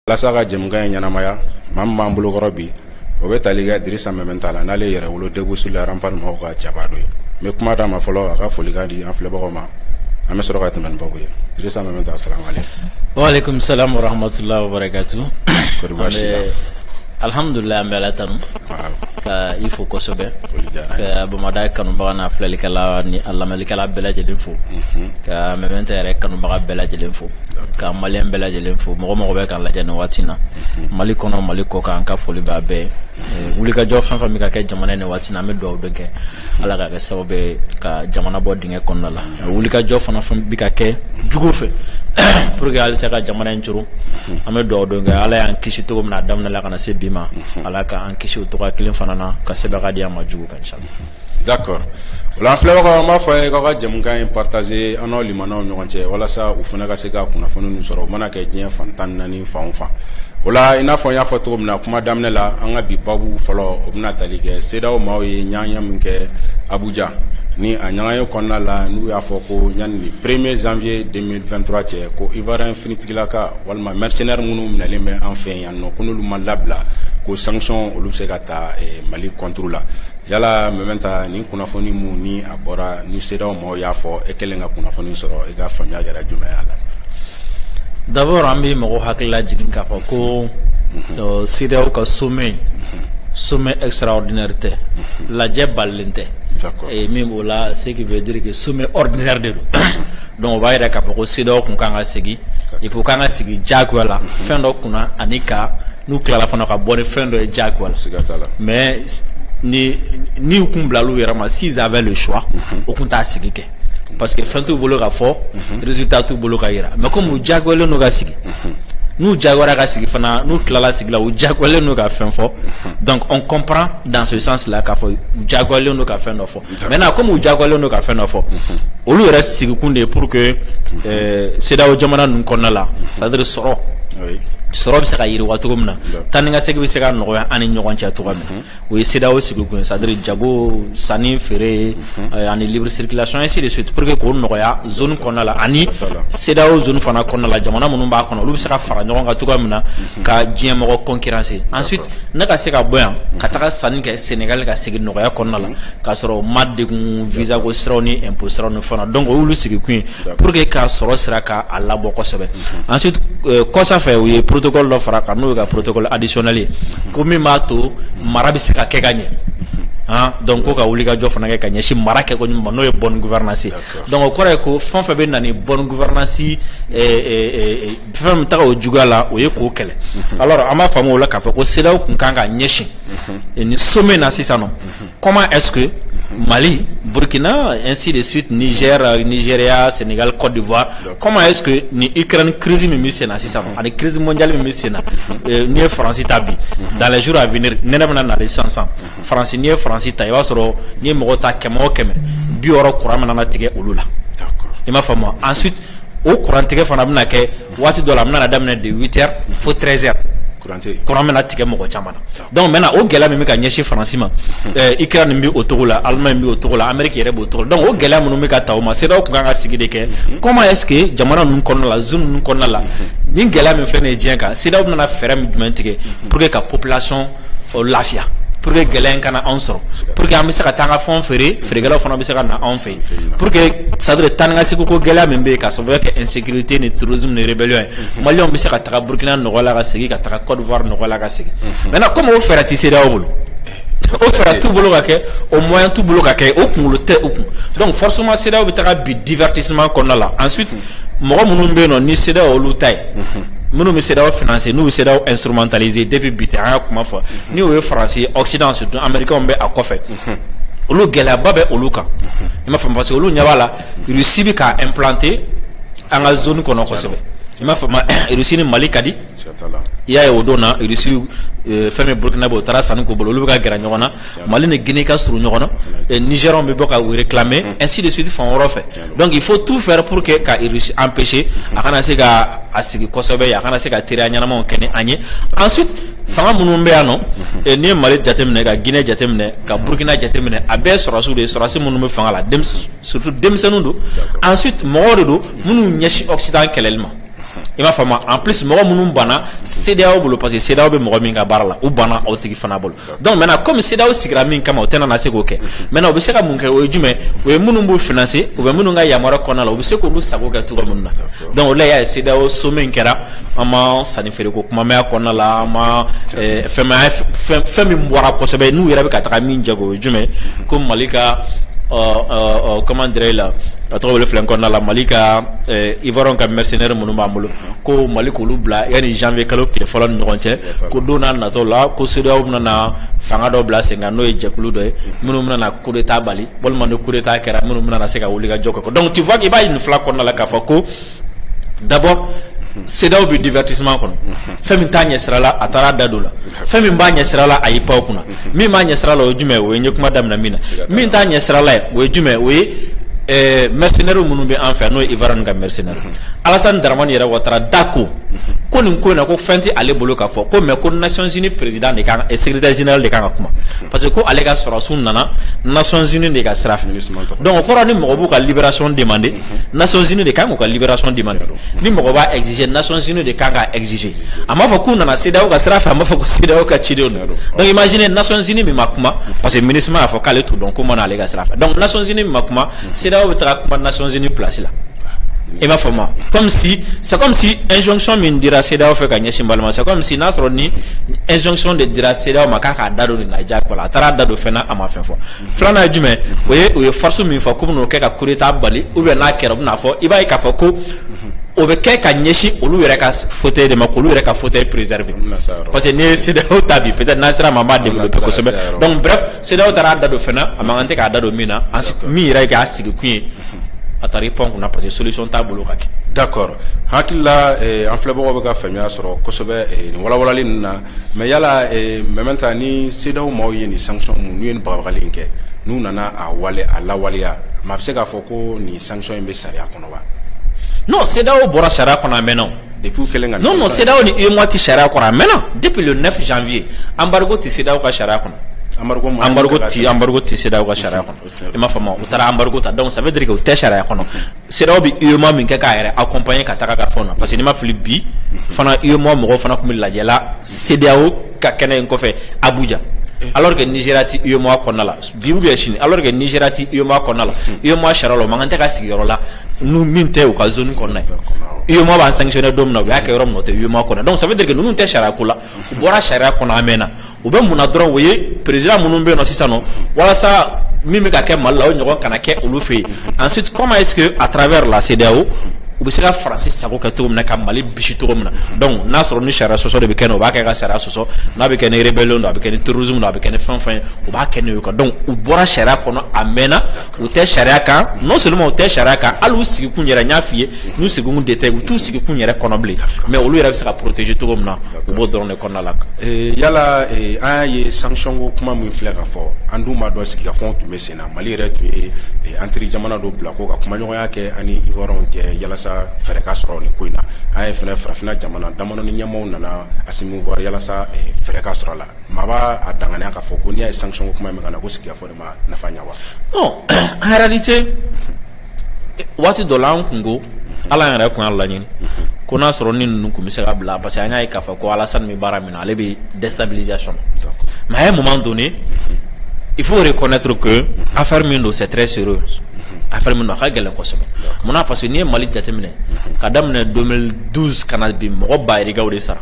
walasa ka jɛmukan in ɲɛnamaya maa min b'an bolokɔrɔ bi o bɛ tali kɛ dirisa mɛmɛnta la n'ale ye yɛrɛwolo debout sur les remparts mɔgɔw ka jaba dɔ ye n bɛ kuma d'a ma fɔlɔ a ka folikan di an filɛbagaw ma an bɛ sɔrɔ ka tɛmɛ ni babu ye dirisa mɛmɛnta asalamualeykum waaleykum salam warahmatullahi wabarakatu kɔri baasi t'i la alhamdulilayi an bɛ ala tanu ka i fo kosɛbɛ ka bamada kanubaga n'a filɛlikɛla ni a lamɛnlikɛla bɛɛ lajɛlen fo mhm. ka mɛmɛnta yɛrɛ kanubaga bɛɛ lajɛlen fo ka maliyɛn bɛɛ lajɛlen fo mɔgɔ o mɔgɔ bɛ k'an lajɛ nin waati na mhm. mali kɔnɔ mali kɔkan n ka foli b'a bɛɛ ye wulikajɔ fɛn fɛn bɛ ka kɛ jamana ye nin waati na an bɛ dugawu de kɛ ala k'a kɛ sababu ye ka jamana bɔ dingɛ kɔnɔna la wulikajɔ fana bɛ ka kɛ jugu fɛ pour que halisa ka jamana in coron an bɛ dugawu de kɛ ala y'an kisi cogo min na a daminɛ la ka na se bi ma ala k'an kisi o cogo kelen fana na ka sebagaya di an ma jugu kan inshallah d'accord o la an filɛbagaw an b'a fɔ a ye k'aw ka jɛmukan in partager an n'aw limanaw ɲɔgɔn cɛ walasa u fana ka se ka kunnafoni ninnu sɔrɔ u mana kɛ diɲɛ fan tan ni naani fan o fan o la i n'a fɔ n y'a fɔ cogo min na kuma daminɛ la an ka bi babu fɔlɔ o bɛna tali kɛ CEDEAO maaw ye ɲɔgɔnye min kɛ abuja ni a ɲɔgɔnye kɔnɔna la n'u y'a fɔ ko yanni premier janvier deux mille vingt-trois cɛ ko ivoirien finitigila ka walima mercenaire minnu minɛlen bɛ an fɛ yan nɔ ko n'olu ma labila ko sanction olu bɛ se ka ta eh, mali contre la yala mɛmɛnta nin kunnafoni minnu ni a bɔra ni CEDEAO ma mɔgɔw y'a fɔ e kɛlen ka kunnafoni sɔrɔ i ka faamuya kɛra jumɛn y'a la d'abord an bɛ mɔgɔw hakili lajigin k'a fɔ ko mhm. CEDEAO ka sommet mhm. sommet extraordinaire tɛ mhm. lajɛ balalen tɛ et min b'o la ce qui veut dire que sommet ordinaire de don donc o b'a yira k'a fɔ ko CEDEAO tun kan ka sigi et puis u kan ka sigi diyagoya la fɛn dɔ kunna ani ka N'u tilala fana ka bɔ ni fɛn dɔ ye diyagoya la, mais ni u tun bilala u yɛrɛ ma s'ils avaient le choix unhun, u tun t'a sigi kɛ parce que fɛn t'u bolo ka fɔ, unhun, résultat t'u bolo ka jira mais comme u diyagoyalen don ka sigi, unhun, n'u diyagoyara ka sigi fana n'u tilala sigi la u diyagoyalen don ka fɛn fɔ, unhun, donc on comprend dans ce sens là k'a fɔ u diyagoyalen don ka fɛn dɔ fɔ maintenant comme u jagoyalen don ka fɛn dɔ fɔ olu yɛrɛ sigikun de ye pour que CEDEAO jamana ninnu kɔnɔna la c'est-à-dire sɔrɔ sɔrɔ bɛ se ka yiriwa cogo min na taa ni ka segin bɛ se ka nɔgɔya an ni ɲɔgɔn cɛ cogo min o ye CEDEAO sigikun ye c'est-à-dire jago sanni feere ani libre circulation ainsi de suite pour que k'o nɔgɔya zone kɔnɔna la ani CEDEAO zone fana kɔnɔna la jamana minnu b'a kɔnɔ olu bɛ se ka fara ɲɔgɔn kan cogo min na ka diɲɛ mɔgɔ concurrencer ensuite ne ka se ka bɔ yan ka taga sanni kɛ sɛnɛgali ka segin nɔgɔya kɔnɔna la k'a sɔrɔ ma degun visa ko siraw ni impôt siraw ni fana donc o y'olu sigikun ye pour que ka sɔrɔ sira k'a labɔ kosɛbɛ ensuite kɔsa fɛ u ye protocole dɔ fara a kan n'o ye ka protocole additionnel ye ko min b'a to mara bɛ se ka kɛ ka ɲɛ Ah, donc ko ka wulikajɔ fana kɛ ka ɲɛsin mara kɛ ko ɲuman ma n'o ye bonne gouvernance donc o kɔrɔ ye ko fɛn fɛn bɛ na ni bonne gouvernance fɛn min taga o juguya la o ye k'o kɛlɛ alors an b'a faamu o la k'a fɔ ko CEDEAO tun kan ka ɲɛsin nin sommet na sisan nɔ comment est-ce que Mali, Burkina, ainsi de suite, Niger, Nigeria, Sénégal, Côte d'Ivoire. Comment est-ce que ni Ukraine crise min bɛ sen na sisan mhm. ani crise mondiale min bɛ sen na mhm. euh, n'i ye France ta bi mhm. dans les jours à venir nɛnɛ bɛna na sisan sisan France n'i ye France ta i b'a sɔrɔ n'i ye mɔgɔ ta kɛmɛ o kɛmɛ bi wɔɔrɔ kuran bɛna na tigɛ olu la i m'a faamu ensuite o kurantigɛ fana bɛna kɛ waati dɔ la a bɛna daminɛ de huit heures fo treize heures kuran bɛna tigɛ mɔgɔ caman na donc maintenant o gɛlɛya min bɛ ka ɲɛsin France ma Ukraine bɛ o cogo la Allemagne bɛ o cogo la Amérique yɛrɛ b'o cogo la donc o gɛlɛya minnu bɛ ka taa o ma CEDEAO tun kan ka sigi de kɛ comment est-ce que jamana ninnu kɔnɔna la zone ninnu kɔnɔna la ni gɛlɛya min filɛ nin ye diɲɛ kan CEDEAO bɛna fɛɛrɛ min jumɛn tigɛ pour que ka population lafiya pour que gɛlɛya in kana anw sɔrɔ pour que an bɛ se ka taa an ka fɛn feere feerekɛlaw fana bɛ se ka na anw fɛ pour que ça doit taga ka segin ko gɛlɛya min bɛ k'a sababu kɛ insécurité ni terrorisme ni rébellion ye mhm. maliyɛnw bɛ se ka taga Burkina nɔgɔya la ka segin ka taga Côte d'Ivoire nɔgɔya la ka segin mhm. maintenant comme o fɛɛrɛ tɛ CEDEAO bolo o fɛɛrɛ t'u bolo ka kɛ o moyen t'u bolo ka kɛ o kunkolo tɛ u kun donc forcément CEDEAO bɛ taga bin divertissement kɔnɔna la ensuite mhm. mɔgɔ minnu bɛ yen nɔ ni CEDEAO y'olu ta ye minnu bɛ CEDEAO financer n'u bɛ CEDEAO instrumentaliser depuis bi tɛ an y'a kuma fɔ ni o ye faransi occident surtout américains bɛ a kɔfɛ. olu gɛlɛyaba bɛ olu kan i m'a faamu parce que olu ɲɛ b'a la Russie bɛ k'a implanter an ka zone kɔnɔ kosɛbɛ i m'a faamu Russie ni Mali ka di i y'a ye o don na Russie euh, fɛn min Burkina bɛ o taara sanni k'u bolo olu bɛ ka gɛrɛ ɲɔgɔn na Mali ni Guinée ka surun ɲɔgɔn na Nigériens bɛ bɔ ka u réclamer ainsi de suite fan wɛrɛw fɛ. donc il faut tout faire pour que ka Russie empêcher a kana se ka a sigi kosɛbɛ a kana se ka teriya ɲɛnamaw kɛ ni an ye ensuite fanga minnu bɛ yan nɔ eh, n'i ye Mali jateminɛ ka Guinée jateminɛ ka Burkina jateminɛ a bɛɛ sɔrɔdasiw de ye sɔrɔdasi minnu bɛ fanga la surtout denmisɛnninw don ensuite mɔgɔw de don minnu ɲɛsin Occident kɛlɛli ma i m'a faamu en plus mɔgɔ minnu banna CEDEAO bolo parce que CEDEAO bɛ mɔgɔ min ka baara la u banna o tigi fana bolo donc maintenant comme CEDEAO sigira min kama o tɛna na se k'o kɛ maintenant u bɛ se ka mun kɛ o ye jumɛn o ye minnu b'u financer u bɛ minnu ka yamaruya kɔnɔna la u bɛ se k'olu sago kɛ cogo min na donc o la y'a ye CEDEAO sommet in kɛra an ma sanni feereko kuma mɛn a kɔnɔna la an ma eh, fɛn ma fɛn fɛn min bɔra kosɛbɛ n'u yɛrɛ bɛ ka taga min jago o ye jumɛn ko Mali ka ɔ ɔ ɔ comment dirais-je la a tɔgɔ wele filɛ n kɔnɔna la Mali ka eh, Ivoiriyɛnw ka mercenaires minnu b'an bolo ko Mali k'olu bila yanni janvier kalo tile fɔlɔ ni ɲɔgɔn cɛ ko don nataw la ko CEDEAO bɛna na fanga dɔ bila sen kan n'o ye jɛkulu dɔ ye minnu bɛna na coup d'Etat bali walima ni coup d'Etat kɛra minnu bɛna na se ka wuli ka jɔ kɛ donc tu vois i b'a ye nin fila kɔnɔna la k'a fɔ ko d'abord CEDEAO bɛ divertissement kɔnɔ fɛn min t'a ɲɛsira la a taara a da don o la fɛn min b'a ɲɛsira la a y'i pan o kunna min b'a ɲɛ sira la o ye jumɛn ye o ye n ye kuma daminɛ min na min t'a ɲɛ sira la ye o ye jumɛn o ye ɛɛ mercenaires minnu bɛ an fɛ n'o ye Ivoirien ka mercenaire Alassane Dramane yɛrɛ Ouattara da ko ko nin ko in na ko fɛn tɛ ale bolo k'a fɔ ko mais ko Nations Unies président de kan ka secrétaire général de kan ka kuma parce que ko ale ka sɔrɔdasiw nana Nations Unies de ka sira fɛ donc o kɔrɔ ni mɔgɔ b'u ka libération demander Nations Unies de kan k'u ka libération demander ni mɔgɔ b'a exiger Nations Unies de kan k'a exiger a m'a fɔ k'u nana CEDEAO ka sira fɛ a m'a fɔ ko CEDEAO ka cidenw de don donc imaginez Nations Unies min ma kuma parce que ministre y'a fɔ k'ale t'u dɔn k'u ma na ale ka sira fɛ donc Nations Unies min ma kuma CEDEAO bɛ taga kuma Nations Unies place la i b'a fɔ ma comme si c'est comme si injonction min dira CEDEAO fɛ ka ɲɛsin Mali ma c'est comme si n'a sɔrɔ ni injonction de dira CEDEAO ma k'a k'a da don nin na diyagoya la a taara a da don fɛn na a ma fɛn fɔ filanan ye jumɛn o ye u ye force min fɔ k'u bɛn'o kɛ ka coup d'état bali ou bien n'a kɛra u bɛna fɔ i b'a ye k'a fɔ ko o bɛ kɛ ka ɲɛsin olu yɛrɛ ka fauteuil de ma k'olu yɛrɛ ka fauteuil préserver parce que n'i ye CEDEAO ta bi peut-être n'an sera a ma an b'a développer kosɛbɛ donc bref CEDEAO taara a da don fɛn na a man kan tɛ k'a da don min na min yɛrɛ k'a sigi kun ye a taara i pan kunna parce que solution t'a bolo ka kɛ. d'accord hakili la eh, an filɛbagaw bɛ ka faamuya sɔrɔ kosɛbɛ eh, nin walawalali ninnu na mais yala eh, maintenant ni CEDEAO maaw ye nin sanction mun n'u ye nin bagabagali in kɛ n'u nana a wale a lawaleya maa bɛ se k'a fɔ ko nin sanction in bɛ sariya kɔnɔ. non CEDEAO bɔra sariya kɔnɔ a mɛnna non non CEDEAO ni UEMOA ti sariya kɔnɔ a mɛnna depuis le 9 janvier embargo tɛ CEDEAO ka sariya kɔnɔ embargo ti embargo tɛ CEDEAO ka sariya kɔnɔ i m'a faamu u taara embargo ta donc ça veut dire que u tɛ sariya kɔnɔ CEDEAO bɛ UEMOA min kɛ k'a yɛrɛ accompagner ka taga ka fɛnw na parce que n'i ma fili bi fana UEMOA mɔgɔw fana tun bɛ lajɛ la CEDEAO ka kɛnɛ in kɔfɛ abuja eh. alors que nizeriya ti uemoa kɔnɔna la bi ou bien sini alors que nizeriya ti uemoa kɔnɔna la uemoa hmm. sariya la o man kan tɛ ka sigi yɔrɔ la n'u min tɛ u ka zone kɔnɔna ye uemoa b'an sanctionner don min na u y'a kɛ yɔrɔ min na o tɛ uemoa kɔnɔ donc ça veut dire que ninnu tɛ sariya ko la u bɔra sariya kɔnɔ a mɛnna u bɛ mun na dɔrɔn o ye président minnu bɛ yen nɔ sisan nɔ walasa min bɛ ka kɛ mali la o ɲɔgɔn kana kɛ olu fɛ yen ensuite comment est ce que à travers la CEDEAO u bɛ se ka faransi sago kɛ cogo min na ka mali bisi cogo min na donc n'a sɔrɔ ni sariya sɔsɔ de bɛ kɛ o b'a kɛ ka sariya sɔsɔ n'a bɛ kɛ ni rébellion don a bɛ kɛ ni terrorisme don a bɛ kɛ ni fɛn fɛn ye u b'a kɛ n'o ye quoi donc u bɔra sariya kɔnɔ a mɛnna u tɛ sariya kan non seulement u tɛ sariya kan hali u sigikun yɛrɛ n y'a f'i ye n'u sigikun de tɛ u t'u sigikun yɛrɛ kɔnɔ bilen mais olu yɛrɛ bɛ se ka protéger cogo min na u b'o dɔrɔn de kɔnɔna la yala an y'a ye sanction ko kuma min filɛ ka fɔ an dun b'a dɔn sigikafɔ tun bɛ sen Mali yɛrɛ tun ye an teri jamana dɔ bila ko ka kumaɲɔgɔnya kɛ ani Ivoirien cɛ yalasa fɛɛrɛ ka sɔrɔ nin ko in na an ye fana farafinna jamana damanin ɲɛmaaw nana Assimi Goïta yalasa fɛɛrɛ ka sɔrɔ a la maa b'a a danganiya k'a fɔ ko n'i y'a ye sanction kuma min na ko sigikafɔ de ma nafa ɲɛ wa en réalité waati dɔ la an kun ko ala yɛrɛ tun y'a laɲini ko n'a sɔrɔ ni ninnu tun bɛ se ka bila parce que an y'a ye k'a fɔ ko Alassane min baara minɛ ale bɛ déstabilisation mais à un moment donné il faut reconnaître que affaire min don c'est très sérieux affaire min don a ka gɛlɛn kosɛbɛ mun na parce que n'i ye mali jateminɛ ka daminɛ 2012 ka na bi mɔgɔ bayirikaw de sara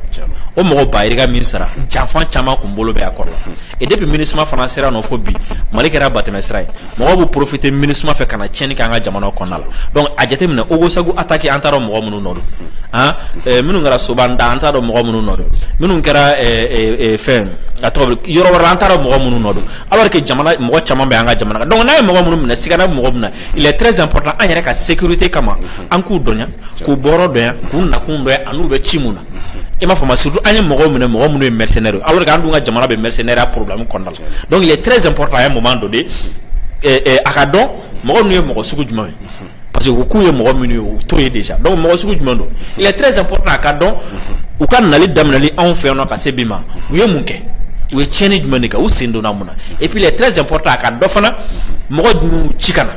o mɔgɔ bayirika min sara janfan caman kun bolo bɛ a kɔrɔ la et depuis minusma fana sera nɔ fo bi mali kɛra batɛmɛ sira ye mɔgɔw bɛ profiter minusma fɛ ka na tiɲɛni kɛ an ka jamana kɔnɔna la donc a jateminɛ ogosagu attaque an t'a dɔn mɔgɔ minnu nɔ don eh, minnu kɛra soban da an t'a dɔn mɔgɔ minnu nɔ don minnu kɛra eh, eh, fɛn a tɔgɔ yɔrɔ wɛrɛ an t'a dɔn mɔgɔ minnu nɔ don alors que jamana mɔgɔ caman bɛ an ka jamana kan donc n'a ye mɔgɔ minnu minɛ sigana bɛ mɔgɔ minnu na il est très important an yɛrɛ ka sécurité kama an k'u dɔnya k'u bɔyɔrɔ dɔnya k'u nakun dɔnya an'u bɛ ci mun na i m'a faamu surtout an ye mɔgɔw minɛ mɔgɔ minnu ye mercenaire alors que an dun ka jamana bɛ mercenaireya problème kɔnɔna la donc il est très important à un moment donné a ka dɔn mɔgɔ ninnu ye mɔgɔ sugu jumɛn ye parce que u k'u ye mɔgɔ minnu ye u t'o ye déjà donc mɔgɔ sugu jumɛn don il est très important a ka dɔn u ka nali daminɛli anw fɛ yan nɔ ka se bi ma u ye mun kɛ u ye tiɲɛni jumɛn de kɛ u sen donna mun na et puis il est très important a ka dɔn fana mɔgɔ jumɛn ci ka na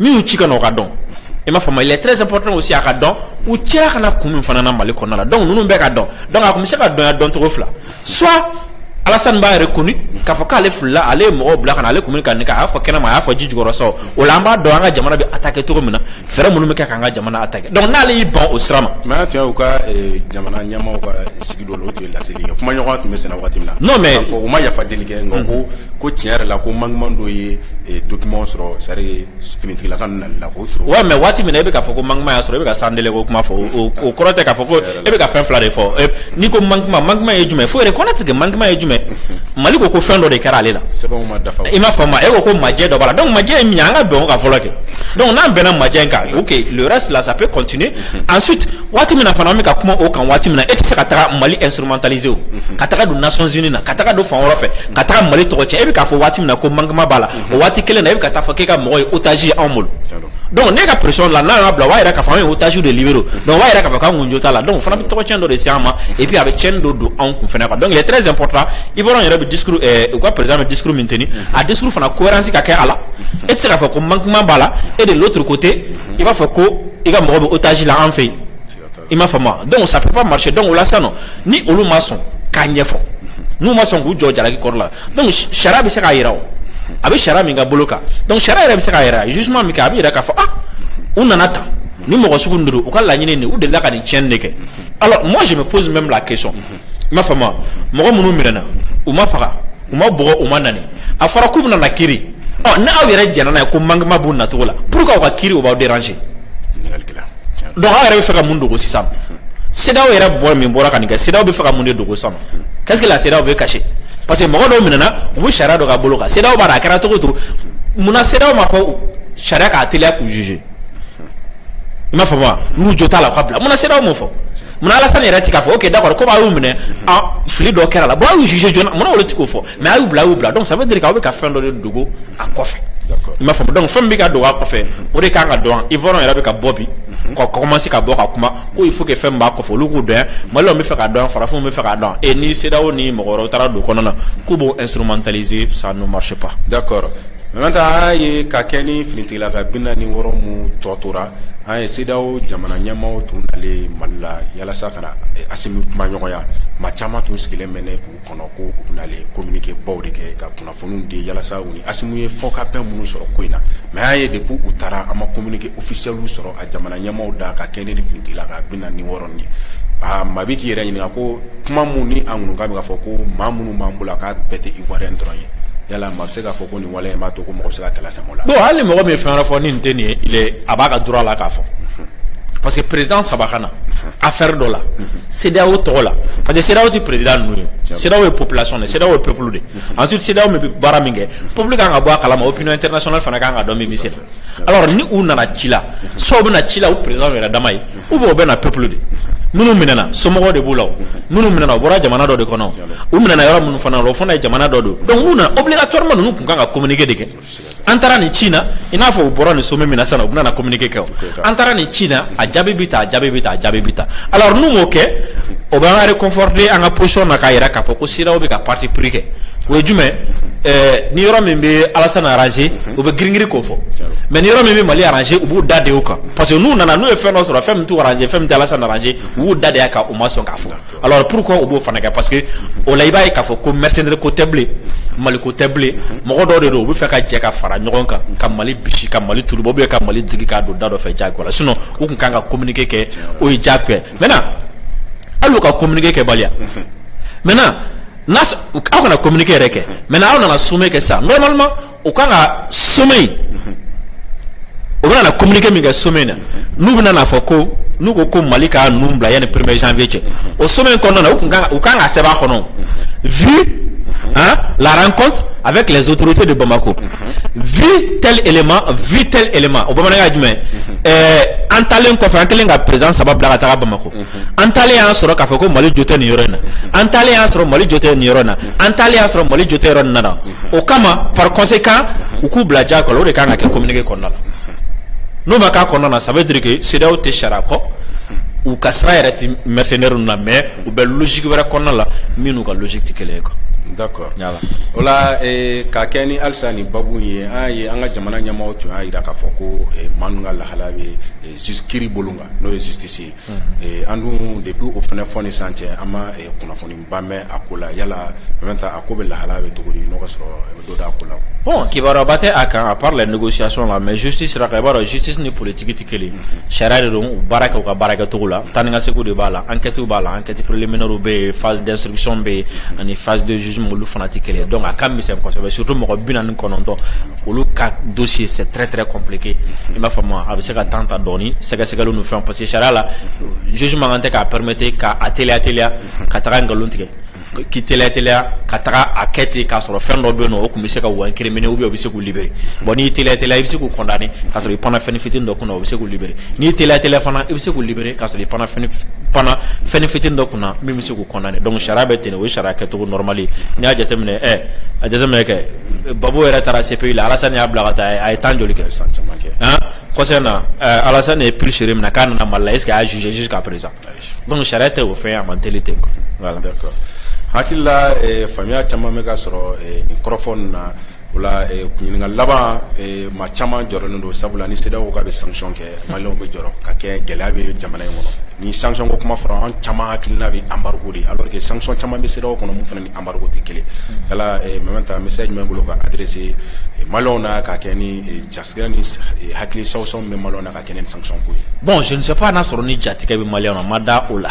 min y'u ci ka na o ka dɔn i m'a faamu il est très important aussi a ka dɔn u cira ka na kun min fana na mali kɔnɔna la donc ninnu bɛɛ ka dɔn donc a tun bɛ se ka dɔnya dɔncogo fila soit Alassane b'a reconnu k'a fɔ k'ale filila ale ye mɔgɔw bila ka na ale kun bɛ ka nin kɛ a y'a fɔ kɛnɛma a y'a fɔ ji jukɔrɔ sa o la an b'a dɔn an ka jamana bɛ attaquer cogo min na fɛɛrɛ minnu bɛ kɛ k'an ka jamana attaquer donc n'ale y'i ban o sira ma. mais an tun y'u ka eh, jamana ɲɛmaaw ka sigi dɔ la o tun ye laseli kɛ kumaɲɔgɔnya tun bɛ senna waati min na. non mais k'a fɔ u ma yafa deli kɛ nka ko ko tiɲɛ yɛrɛ la ko manquement dɔ ye eh, document sɔrɔ c'est à dire finitigila ka nali la k'o sɔrɔ ouais mais waati min na e bɛ k'a fɔ ko manquement y'a sɔrɔ e bɛ ka sandele ko kuma fɔ o o kɔrɔ tɛ k'a fɔ ko e bɛ ka fɛn fila de fɔ n'i ko manquement manquement ye jumɛn faut reconnaître que manquement ye jumɛn Mali ko ko fɛn dɔ de kɛra ale la sɛbɛnw ma dafa i m'a faamu e ko ko majɛ dɔ b'a la donc majɛ ye min ye an ka bɛn o kan fɔlɔ kɛ donc n'an bɛnna majɛ in kan ok le reste là ça peut continuer ensuite waati min na fana an bɛ ka kuma o kan waati min na e tɛ se ka taga Mali instrumentaliser o ka taga don Nations Unies na ka taga don fan wɛrɛ fɛ ka taga Mali tɔgɔ cɛn e bɛ k'a fɔ waati min na ko manquement b'a la o waati kelen na e bɛ ka taa fɔ k'e ka mɔgɔ ye otage ye anw bolo donc n'e ka pression la n'a y'a bila o b'a yira k'a fɔ anw ye otage de libérer donc o b'a yira k'a fɔ k'an kun jo t'a la donc o fana bɛ tɔgɔcɛn dɔ de se an ma et puis a bɛ tiɲɛni dɔ don anw kun fana kan donc il est très important Ivoirienw yɛrɛ bɛ discours ɛɛ eh, u ka président bɛ discours min tenir a discours fana cohérence ka kɛ a la e tɛ se k'a fɔ ko manquement b'a la et de l'autre côté i b'a fɔ ko i ka mɔgɔ bɛ otage la an fɛ yen i m'a faamu donc ça peut pas marcher donc o la sisan nɔ ni olu ma sɔn k'a ɲɛfɔ n'u ma sɔn k'u jɔ jalaki kɔrɔ la donc sariya bɛ se k'a jira o a bɛ sariya min ka bolo kan donc sariya yɛrɛ bɛ se k'a jira jugement min kɛ a bɛ jira k'a fɔ ah u nana tan ni mɔgɔ sugu ninnu don u ka laɲini nin u delila ka nin tiɲɛni de kɛ alors moi je me pose même la question i m'a faamu wa? mɔgɔ minnu minɛna u ma faga u ma bugɔ u ma ɲani a fɔra k'u bɛna na kiri ɔ ni aw yɛrɛ jɛnna n'a ye ko manquement b'u nacogo la pourquoi u ka kiri o b'aw déranger ɲininkali kɛla tiɲɛ don donc aw yɛrɛ bɛ fɛ ka mun dogo sisan CEDEAO yɛrɛ bɔ min bɔra ka nin kɛ CEDEAO bɛ fɛ ka mun de dogo sisan qu'est-ce que la CEDEAO veut cacher parce que mɔgɔ dɔw minɛna u bɛ sariya dɔ ka bolo kan CEDEAO b'a dɔn a kɛra cogo o cogo munna CEDEAO m'a fɔ sariya k'a teliya k'u juger i m'a faamu wa n'u jo t'a la u ka bila munna CEDEAO m'o fɔ Munna Alasani yɛrɛ tɛ k'a fɔ ok d'accord comme a y'u minɛ fili dɔ kɛra a la bon a y'u juger joona munna olu tɛ k'o fɔ mais a y'u bila a y'u bila donc ça veut dire que aw bɛ ka fɛn dɔ de dogo a kɔfɛ i m'a faamu donc fɛn min bɛ ka dogo a kɔfɛ o de ka kan ka dɔn Ivoirien yɛrɛ bɛ ka bɔ bi ka commencer ka bɔ ka kuma ko il faut que fɛn min b'a kɔfɛ olu k'o dɔn Maliens bɛ fɛ k'a dɔn farafinw bɛ fɛ k'a dɔn et ni CEDEAO ni mɔgɔ wɛrɛw taara don o kɔnɔna na k'u b'o instrumentaliser ça ne marche pas d'accord An y'a ye ka kɛɲɛ ni finitigilaka binaani ni wɔɔrɔ minnu tɔ tora an ye CEDEAO jamana ɲɛmaaw tun nalen Mali la yalasa ka na Assimi kumaɲɔgɔnya maa caman tun sigilen bɛ yen k'u kɔnɔ ko u bɛna communiqué baw de kɛ ka kunnafoniw di yalasa u ni Assimi ye fɔkabɛn minnu sɔrɔ ko in na mais an y'a ye depuis u taara an ma communiqué officiel sɔrɔ a jamana ɲɛmaaw da ka kɛɲɛ ni finitigilaka binaani ni wɔɔrɔ ye aa maa bɛ k'i yɛrɛ ɲininka ko kuma min ŋunuŋunukan bɛ k'a fɔ ko maa minnu b'an bolo k'a bɛɛ tɛ Ivoirien dɔrɔn ye yala se k'a fɔ ko nin waleya in b'a to ko mɔgɔ bɛ se ka kɛlɛ sama o la. bon hali ni mɔgɔ min ye fɛn wɛrɛ fɔ ni nin tɛ nin ye il est a b'a ka droit la k'a fɔ. parce que président saba ka na affaire dɔ la CEDEAO tɔgɔ la parce que CEDEAO tɛ président ninnu ye CEDEAO ye population de ye CEDEAO ye peuple de ye ensuite CEDEAO min bɛ baara min kɛ peuple kan ka bɔ a kalama opinion internationale fana kan ka dɔn min bɛ senfɛ alors ni u nana ci la soit u bɛ na ci la u président yɛrɛ dama ye Ou bien u bɛ na peuple de minnu minɛna somɔgɔw de b'u la minnu minɛna u bɔra jamana dɔ de kɔnɔ u minɛna yɔrɔ minnu fana la o fana ye jamana dɔ don donc n'u nana obligatoirement ninnu tun kan ka communiqué de kɛ an taara nin ci na i n'a fɔ u bɔra nin sommet min na sisan u bɛna communiqué kɛ an taara nin ci na a jaabi bɛ tan a jaabi bɛ tan a jaabi bɛ tan alors n'u m'o kɛ o bɛ an réconforter an ka position na k'a jira k'a fɔ ko CEDEAO bɛ ka parti pris kɛ o ye jumɛn ni yɔrɔ min bɛ Alassane arranger u bɛ girin-girin k'o fɔ mais ni yɔrɔ min bɛ Mali arranger u b'u da de o kan parce que n'u nana n'u ye fɛn dɔ sɔrɔ fɛn min t'u arranger fɛn min tɛ Alassane arranger u y'u da de a kan u ma sɔn k'a fɔ alors pourquoi u b'o fana kɛ parce que o la i b'a ye k'a fɔ ko mercenaire ko tɛ bilen Mali ko tɛ bilen mɔgɔ dɔw de don u bɛ fɛ ka jɛ ka fara ɲɔgɔn kan ka Mali bisi ka Mali turu bɔ ou bien ka Mali digi k'a don da dɔ fɛ jagoya la sinon u tun kan ka communiquer kɛ o ye jagoya ye maintenant hali u ka communiquer kɛbaliya maintenant aw kana communiquer yɛrɛ kɛ maintenant aw nana sommet kɛ sisan normalement u kan ka sommet in u bɛna na communiqué min kɛ sommet in na n'u bɛna n'a fɔ ko n'u ko ko Mali ka ninnu bila yanni premier janvier cɛ o sommet in kɔnɔna na u kun kan k'a sɛbɛn a kɔnɔ vu hein, la rencontre avec les autorités de Bamako vu tel élément vu tel élément o bamanankan ye jumɛn ye ɛɛ an taalen kɔfɛ an kɛlen ka président saba bila ka taga Bamako. an taalen y'a sɔrɔ k'a fɔ ko mali jo tɛ nin yɔrɔ in na an taalen y'a sɔrɔ mali jo tɛ nin yɔrɔ in na an taalen y'a sɔrɔ mali jo tɛ yɔrɔ nin na o kama par conséquent u k'u bila jagoya la o de kan ka kɛ communiqué kɔnɔna la n'o ma k'a kɔnɔna na ça veut dire que CEDEAO tɛ sariya kɔ u ka sira yɛrɛ tɛ mercenaires ninnu na mais u bɛ logique wɛrɛ kɔnɔna la min n'u ka logique tɛ kelen ye quoi. d'accord o la eh, ka kɛɲɛ ni halisa nin babu ye an ye an ka jamana ɲɛmaaw tun y'a jira k'a fɔ ko eh, maa ninnu ka lahala bɛ eh, kiri bolo kan n'o ye justice ye Eh, an dun depuis o fana fo ni sisan cɛ an ma eh, kunnafoniba mɛn a ko la yala mɛnta a ko bɛ lahala bɛ cogo di n'o ka sɔrɔ e bɛ dɔ dɔn a ko la bon kibaruyaba tɛ a kan à part les négociations là mais justice sira kan i b'a dɔn justice ni politique tɛ kelen sariya de don u baara kɛ u ka baarakɛcogo la taa ni ka segin de b'a la enquête b'a la enquête préliminaire bɛ yen phase d'instruction bɛ yen ani phase de jugement olu fana tɛ kelen ye donc a ka misɛn kosɛbɛ surtout mɔgɔ bi naani kɔnɔntɔn olu ka dossier c'est très très compliqué i m'a faamu a bɛ se ka temps ta dɔɔni sɛgɛsɛgɛliw ni fɛnw parce que sariya la juge man kan tɛ k'a permettre ka a teliya teliya ka taga nkalon tigɛ k'i teliya teliya ka taga a kɛ ten k'a sɔrɔ fɛn dɔ bɛ yen nɔ o tun bɛ se k'u incriminer ou bien o bɛ se k'u libérer bon n'i teliya teliya i bɛ se k'u condamner k'a sɔrɔ i panna fɛn fitini dɔ kunna o bɛ se k'u libérer n'i teliya teliya fana i bɛ se k'u libérer k'a sɔrɔ i panna fɛn panna fɛn fitini dɔ kunna min bɛ se k'u condamner donc sariya bɛ ten o sariya kɛcogo normal n'i y'a jateminɛ e a jateminɛ kɛ Gbagbo yɛrɛ taara CPI la alasan y'a bila ka taa a ye temps joli kɛ san caman kɛ kɔsa in na alasan de ye Pulchérie minɛ k'a nana mali la est-ce que a y'a juger jusqu'à présent donc sariya tɛ o fɛn a man teli ten voilà d'accord hakilila faamuya caman bɛ ka sɔrɔ microphone na Ola ɲininka laban maa caman jɔrɔlen don sabula ni CEDEAO k'a bɛ sanction kɛ malienw bɛ jɔrɔ ka kɛ gɛlɛya bɛ jamana in kɔnɔ ni sanction ko kuma fɔra an caman hakilila bɛ embargo de alors que sanction caman bɛ CEDEAO kɔnɔ min fana ni embargo tɛ kelen mɛnta message jumɛn b'i bolo ka adresser malienw na ka kɛ ni jasiran ni hakili sansɔn bɛ malienw na ka kɛ ni sanction ko ye bon je ne sais pas n'a sɔrɔ ni jatigɛ bɛ malienw na ma da o la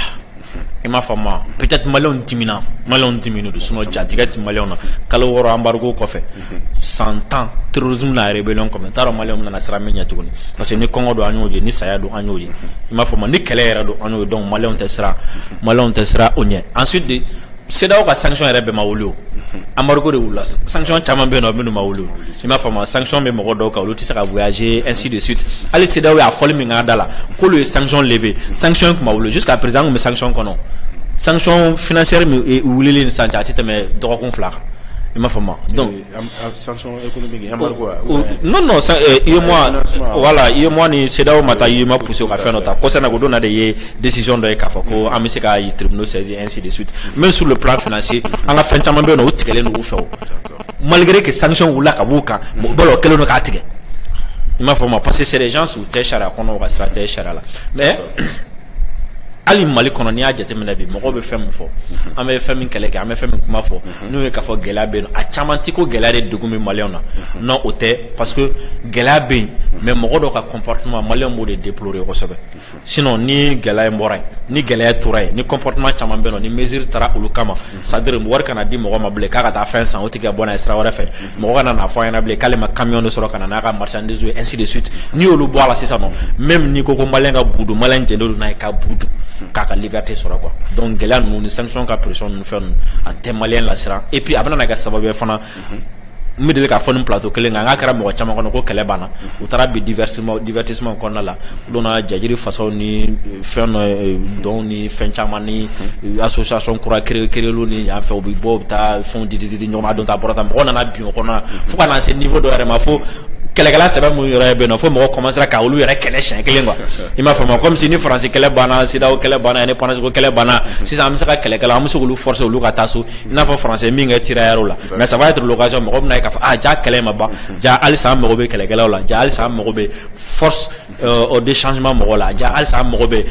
i m'a faamu peut-être malienw dimina malienw diminen don sinon jatigɛ tɛ malienw na kalo wɔɔrɔ embargo kɔfɛ san tan terrorisme na rébellion comme taara malienw bɛna na siran mun ɲɛ tuguni parce que ni kɔngɔ don an y'o ye ni saya don an y'o ye i m'a faamu ni kɛlɛ yɛrɛ don an y'o ye donc malienw tɛ siran malienw tɛ siran o ɲɛ ensuite CEDEAO ka sanction yɛrɛ bɛɛ ma wuli o embargo de wulila sanction caman bɛ yen nɔ minnu ma wuli i m'a faamu sanction bɛ mɔgɔ dɔw kan olu tɛ se ka voyager ainsi de suite hali CEDEAO y'a fɔli min k'a da la k'olu ye sanction lever sanction tun ma wuli jusqu'à présent an tun bɛ sanction kɔnɔ sanction financière min wulilen ni sisan cɛ a tɛ tɛmɛ dɔgɔkun fila kan i m'a faamu donc voilà UEMOA ni CEDEAO ma taa i ma pousser ka fɛn dɔ ta concernant ko donna de ye décision dɔ ye k'a fɔ ko an bɛ se ka tribunal saisir ainsi de suite même sur le plan financier an ka fɛn caman bɛ yen o tigɛlen don u fɛ o malgré que sanction wulila ka b'u kan mɔgɔ bolo kelen don k'a tigɛ i m'a faamu parce que sanction tɛ sariya kɔnɔ ka sira tɛ sariya la mais hali mali kɔnɔ n'i y'a jateminɛ bi mɔgɔ bɛ fɛn min fɔ an bɛ fɛn min kɛlɛ kɛ an bɛ fɛn min kuma fɔ n'o ye k'a fɔ gɛlɛya bɛ yen a caman tɛ ko gɛlɛya de degun bɛ maliyɛnw na non o tɛ parce que gɛlɛya bɛ yen mais mɔgɔ dɔ ka comportement maliyɛnw b'o de déplorer kosɛbɛ sinon ni gɛlɛya in bɔra yen ni gɛlɛya tora yen ni comportement caman bɛ yen nɔ ni mesure taara olu kama c'est à dire wari kana di mɔgɔ ma bilen k'a ka taa fɛn san o tigi ka bɔ n'a ye sira wɛrɛ fɛ mɔgɔ kana n'a fɔ a ɲɛna bilen k'ale ma camion de sɔrɔ ka na n'a ka marchandise ye ainsi de suite n'i y'olu bɔ a la sisan nɔ même n'i ko ko maliyɛn ka bɔgɔ dun maliyɛn jɛnnen don n'a ye ka bɔgɔ dun k'a ka liberté sɔrɔ quoi donc gɛlɛya ninnu ni sanction ka pression ninnu fɛn ninnu a tɛ maliyɛn lasiran et puis a bɛna na kɛ sababu ye fana n bɛ deli k'a fɔ nin plateau kelen kan n k'a kɛra mɔgɔ caman kɔnɔ ko kɛlɛ banna u taara bi divertissement divertissement kɔnɔna la u donna jajiri fasaw ni fɛn dɔ dɔnw ni ni fɛn caman ni association kura créer créerliw ni en fait u bɛ bɔ u bɛ taa fɛnw di di di di ɲɔgɔn ma a don ta a bɔra ta mɔgɔ nana bin o kɔnɔna fo ka na se niveau dɔ yɛrɛ ma fo kɛlɛkɛla sɛbɛ mun yɛrɛ bɛ yen nɔ fo mɔgɔ commencera ka olu yɛrɛ kɛlɛ siɲɛ kelen quoi i m'a faamu comme si ni faransi kɛlɛ banna CEDEAO kɛlɛ banna indépendance ko kɛlɛ banna sisan an bɛ se ka kɛlɛkɛla an bɛ se k'olu forcer olu ka taa so i n'a fɔ faransi ye min kɛ tirailleurs la mais ça va être l'occasion mɔgɔ bɛna ye k'a fɔ ah ja kɛlɛ in ma ban ja halisa an mago bɛ kɛlɛkɛlaw la ja halisa an mago bɛ force euh, de changement mɔgɔ la ja halisa an mago bɛ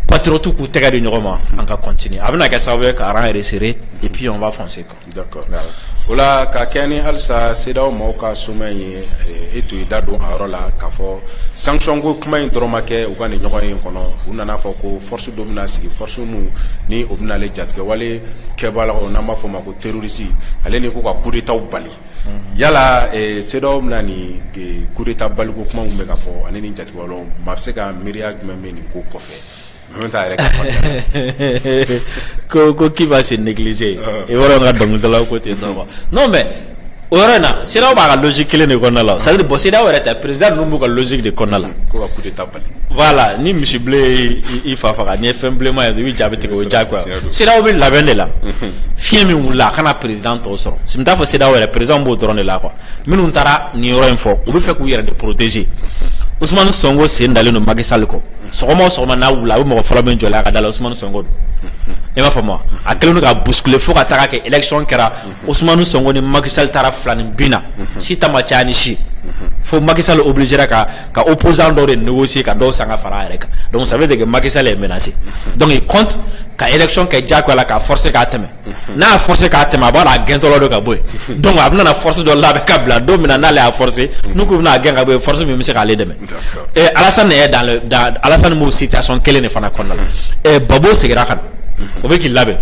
patriotes k'u tɛgɛ di ɲɔgɔn ma an ka continuer a bɛna kɛ sababu ye ka rang resserrer et puis on va foncer quoi. d'accord o la ka kɛɲɛ ni halisa CEDEAO maaw ka sommet in ye eh, e tun y'i da don a yɔrɔ la k'a fɔ sanction ko kuma in dɔrɔn ma kɛ u ka nin ɲɔgɔnye kɔnɔ u nana fɔ ko force dɔ bɛna sigi force min ni o bɛna ale jatigɛwale kɛbagaw n'an b'a fɔ o ma ko terroriste ale ni ko ka coup d'état bali Yala se bɛna nin kuruta baliko kuma bɛ ka fɔ ani ni jate maa bɛ se ka miiriya jumɛn bɛ nin ko kɔfɛ yɛrɛ ko ko k'ba se nilise e ka dɔnkilila ko ten n'o mɛ o yɔrɔ in na se b'a ka lusi kelen de kɔnɔna la sari bɔsi yɛrɛ tɛ perez ninnu b'u ka lusi de kɔnɔna la la ni misi i fa faga n ye fɛn bilenma ye i bɛ jaabi tigɛ o ja CEDEAO bɛ labɛn de la fiɲɛ min wulila a kana président tɔw sɔrɔ n t'a fɔ CEDEAO yɛrɛ président b'o dɔrɔn de la quoi minnu taara nin yɔrɔ in fɔ u bɛ fɛ k'u yɛrɛ de protéger Ousmane Sonko sen dalen don Macky Sall kɔ sɔgɔma o sɔgɔma n'a wulila a bɛ mɔgɔ fɔlɔ min jɔlen a ka da la Ousmane Sonko don i m'a faamu wa a kɛlen don k'a bousculer fo ka taga kɛ élection kɛra Osumanu Sonko ni Macky Sall taara filaninbin na si ta ma caya ni si ye fo Macky Sall obligera ka ka opposant dɔw de négocier ka dɔw san ka fara a yɛrɛ kan donc ça veut dire que Macky Sall est menacé donc il compte ka élection kɛ diyagoya la k'a forcer k'a tɛmɛ n'a y'a forcer k'a tɛmɛ a b'a dɔn a gɛntɔlɔ don ka bɔ yen donc a bɛna na force dɔ labɛn ka bila don min na n'ale y'a forcer n'u k'u bɛna a gɛn ka bɔ yen force min bɛ se k'ale dɛmɛ Alassane Alassane b'o situation kelen de fana kɔnɔna na Gbagbo segira ka na o bɛ k'i labɛn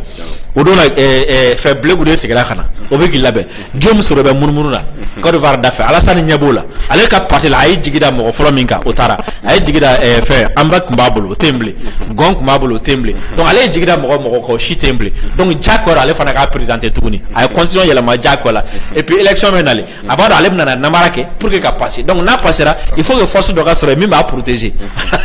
o don fɛ Blé Goudé segira ka na o bɛ k'i labɛn Guillaume Soro bɛ munumunu na Côte d'Ivoire da fɛ Alassane ɲɛ b'o la ale ka parti la a ye jigi da mɔgɔ fɔlɔ min kan o taara a ye jigi da fɛ Hambak tun b'a bolo o tɛ yen bilen Gon tun b'a bolo o tɛ yen bilen donc ale ye jigi da mɔgɔ o mɔgɔ kan o si tɛ yen bilen donc diyagoya ale fana k'a présenter tuguni a ye constitution yɛlɛma diyagoya la et puis élection bɛ na a b'a dɔn ale bɛna namara kɛ pour que ka passer donc n'a passera il faut que force dɔ ka sɔrɔ yen min b'a protéger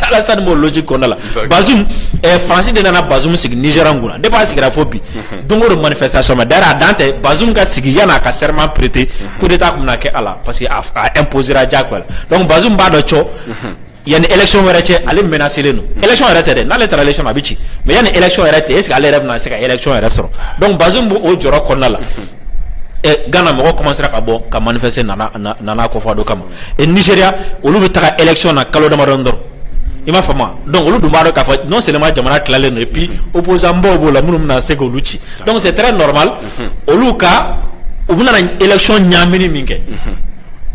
Alassane b'o logique kɔnɔna la Bazoum eh, France de nana Bazoum sigi Niger kunna depuis a sigira fo bi don o don manifestation mais d'ailleurs a dan tɛ Bazoum ka sigi yan'a ka serment prêter coup d'état tun bɛna kɛ a la parce que a a imposera diyagoya la donc Bazoum b'a dɔn cɔ yanni election wɛrɛ cɛ ale menacelen don mm. election yɛrɛ tɛ dɛ n'ale taara election a bɛ ci mais yanni election yɛrɛ cɛ est ce que ale yɛrɛ bɛna se ka election yɛrɛ sɔrɔ donc Bazoum b'o jɔrɔ kɔnɔna la mm-hmm. eh, Ghana mɔgɔ commencera ka bɔ ka manifester Nana Nana Akufo-Addo kama et Nigeria olu bɛ taga election na kalo damadɔni dɔrɔn i m'a faamu donc olu dun b'a dɔn k'a fɔ non seulement jamana tilalen don et puis mm-hmm. opposant baw b'o la minnu bɛna se k'olu ci donc c'est très normal mm-hmm. olu ka u bɛna election ɲaamini min kɛ.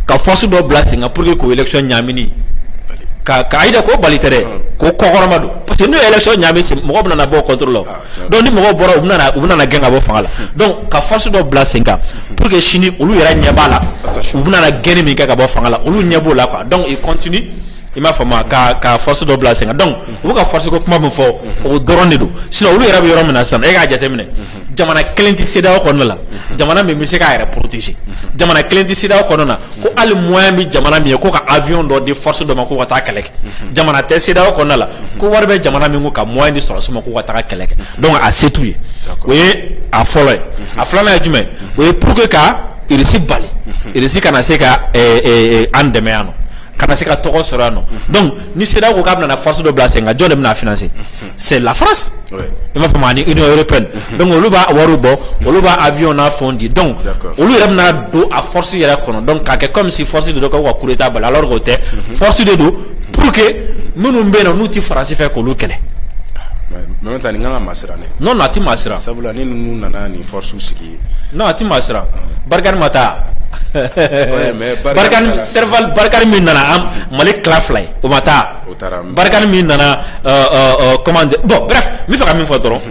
ka force dɔ bila sen kan pour que k'o election ɲaamini ka ka ayida ko bali tɛ dɛ ah. k'o kɔkɔrɔmadon parce que n'o ye election ɲaami sen mɔgɔ bɛna bɔ contre olu la ah, donc ni mɔgɔw bɔra u bɛna u bɛna gɛn ka bɔ fanga la hmm. donc ka force dɔ bila sen kan pour que sini olu yɛrɛ ɲɛ b'a la u bɛna gɛnni min kɛ ka bɔ fanga la olu ɲɛ b'o la quoi donc il continue i m'a faamu ka ka force dɔ bila sen kan donc u bɛ ka force ko kuma min fɔ hmm. o dɔrɔn de don sinon olu yɛrɛ bɛ yɔrɔ min na sisan e k'a jateminɛ hmm. jamana kelen tɛ CEDEAO kɔnɔna la jamana min bɛ se k'a yɛrɛ protéger jamana kelen tɛ CEDEAO kɔnɔna na ko hali moyen bɛ jamana min ye ko ka avion dɔ di force dɔ ma ko ka taa kɛlɛ kɛ jamana tɛ CEDEAO kɔnɔna la ko wari bɛ jamana min ko ka moyen di sɔrɔdasi ma ko ka taa kɛlɛ kɛ donc a se t'u ye o ye a fɔlɔ ye a filanan ye jumɛn o ye pour que ka Russie bali Russie kana se ka eh, eh, eh, an dɛmɛ yan nɔ kana se ka tɔgɔ sɔrɔ yan nɔ donc ni CEDEAO ko k'a bɛna na force dɔ bila sen kan jɔn de bɛna a financer c'est la France i m'a faamu ani Union européenne mhm. donc olu b'a wariw bɔ olu b'a avion n'a fɛnw di donc olu yɛrɛ bɛna don a force yɛrɛ kɔnɔ donc k'a kɛ comme si force de don k'aw ka coup d'état bali alors k'o tɛ mhm. force de don pour que minnu bɛ yen nɔ n'u tɛ faransi fɛ k'olu kɛlɛ maintenant nin kan ka masiran ne non non a tɛ masiran sabula ni ninnu nana nin force sigi non a tɛ masiran Barkhane ma taa Barkhane Serval Barkhane min nana Mali tila fila ye o ma taa Barkani min nana comment dire bon bref n b'a fɛ ka min fɔ dɔrɔn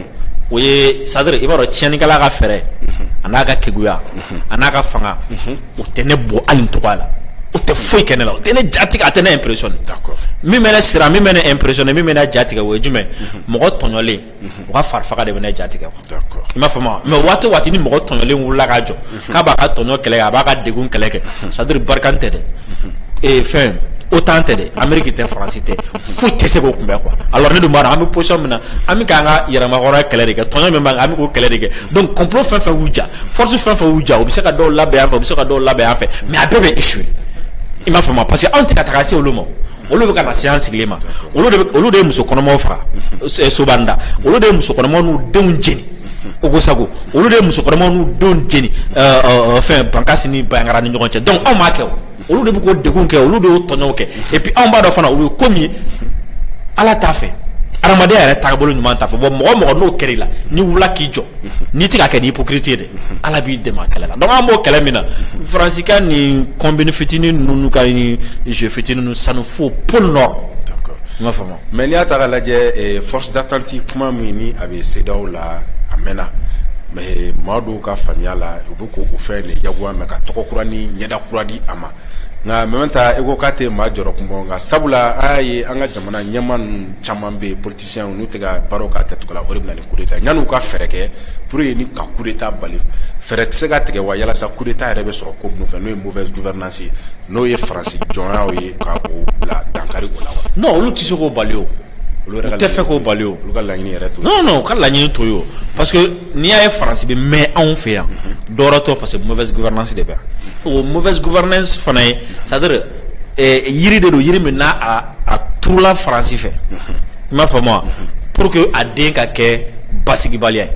o ye c'est-à-dire i b'a dɔn tiɲɛnikɛla ka fɛɛrɛ a n'a ka keguya a n'a ka fanga o tɛ ne bɔ hali n cogo la o tɛ foyi kɛ ne la o tɛ ne jatigɛ a tɛ ne impressionné min bɛ ne siran min bɛ ne impressionné min bɛ ne jatigɛ o ye jumɛn mɔgɔ tɔɲɔlen o ka farifaga de bɛ ne jatigɛ i m'a faamu mais waati o waati ni mɔgɔ tɔɲɔlen wulila k'a jɔ k'a b'a ka tɔɲɔ kɛlɛ kɛ a b'a ka degun kɛlɛ kɛ c'est-à-dire Barkani tɛ dɛ ee fɛn OTAN tɛ dɛ ameriki tɛ faransi tɛ foyi tɛ se k'o kunbɛn quoi alors ne dun b'a dɔn an bɛ position min na an bɛ k'an ka yɛrɛmahɔrɔnya kɛlɛ de kɛ tɔɲɔ min b'an kan an bɛ k'o kɛlɛ de kɛ donc complot fɛn fɛn y'u ja force fɛn fɛn y'u ja u bɛ se ka dɔw labɛn yan fɛ u bɛ se ka dɔw labɛn yan fɛ mais a bɛɛ bɛ échouer i m'a faamu parce que anw tɛ ka taga se olu ma olu bɛ ka na se an sigilen ma olu de ye muso kɔnɔmaw faga Sobanda olu de ye muso kɔnɔmaw n'u denw jeni Ogosagu olu de ye muso kɔnɔmaw n'u denw jeni fɛn bankasi ni Bayangara ni ɲɔgɔn cɛ donc anw m'a kɛ olu de bɛ k'o degun kɛ olu de y'o tɔɲɔ kɛ et puis anw b'a dɔn fana olu ye ko min ala t'a fɛ adamadenya yɛrɛ tagabolo ɲuman t'a fɛ bon mɔgɔ o mɔgɔ n'o kɛr'i la n'i wula k'i jɔ n'i tɛ k'a kɛ ni hypocrite ye dɛ ala b'i dɛmɛ a kɛlɛ la donc an b'o kɛlɛ min na faransi ka nin combine fitinin ninnu ka nin jeu fitinin ninnu sanu fo pôle nord i m'a faamu mais n'i y'a ta k'a lajɛ eh, force d'attente kuma min ni a bɛ CEDEAO la a mɛnna mais eh, maa dɔw ka faamuya la u bɛ ko u fɛ nin jagoya mɛ ka tɔgɔ kura ni ɲɛda kura di a ma nka mɛ ta eko k'a tɛ maa jɔrɔ kun bɔ nka sabula an y'a ye an ka jamana ɲɛmaa ninnu caman bɛ politiciens n'u tɛ ka baaraw k'a kɛcogo la o de bɛ yan'u ka fɛɛrɛ kɛ pour que ni ka coup d'Etat bali fɛɛrɛ tɛ se ka tigɛ wa yalasa coup d'Etat yɛrɛ bɛ sɔrɔ ko minnu fɛ n'o ye mauvaise gouvernance ye n'o ye faransi jɔnyaw ye ka o bila dankari o la wa. non olu tɛ se k'o bali o. olu tɛ fɛ k'o bali o. olu ka laɲini yɛrɛ t'o ye. non non u ka laɲini t'o ye o parce que n'i y'a ye faransi bɛ mɛn anw fɛ yan dɔwɛrɛ t'o parce que mauvaise gouvernance de bɛ yan o mauvaise gouvernance fana ye c'est à dire yiri de don yiri min n'a a turula faransi fɛ i m'a faamu wa pour que a den ka kɛ basigibaliya ye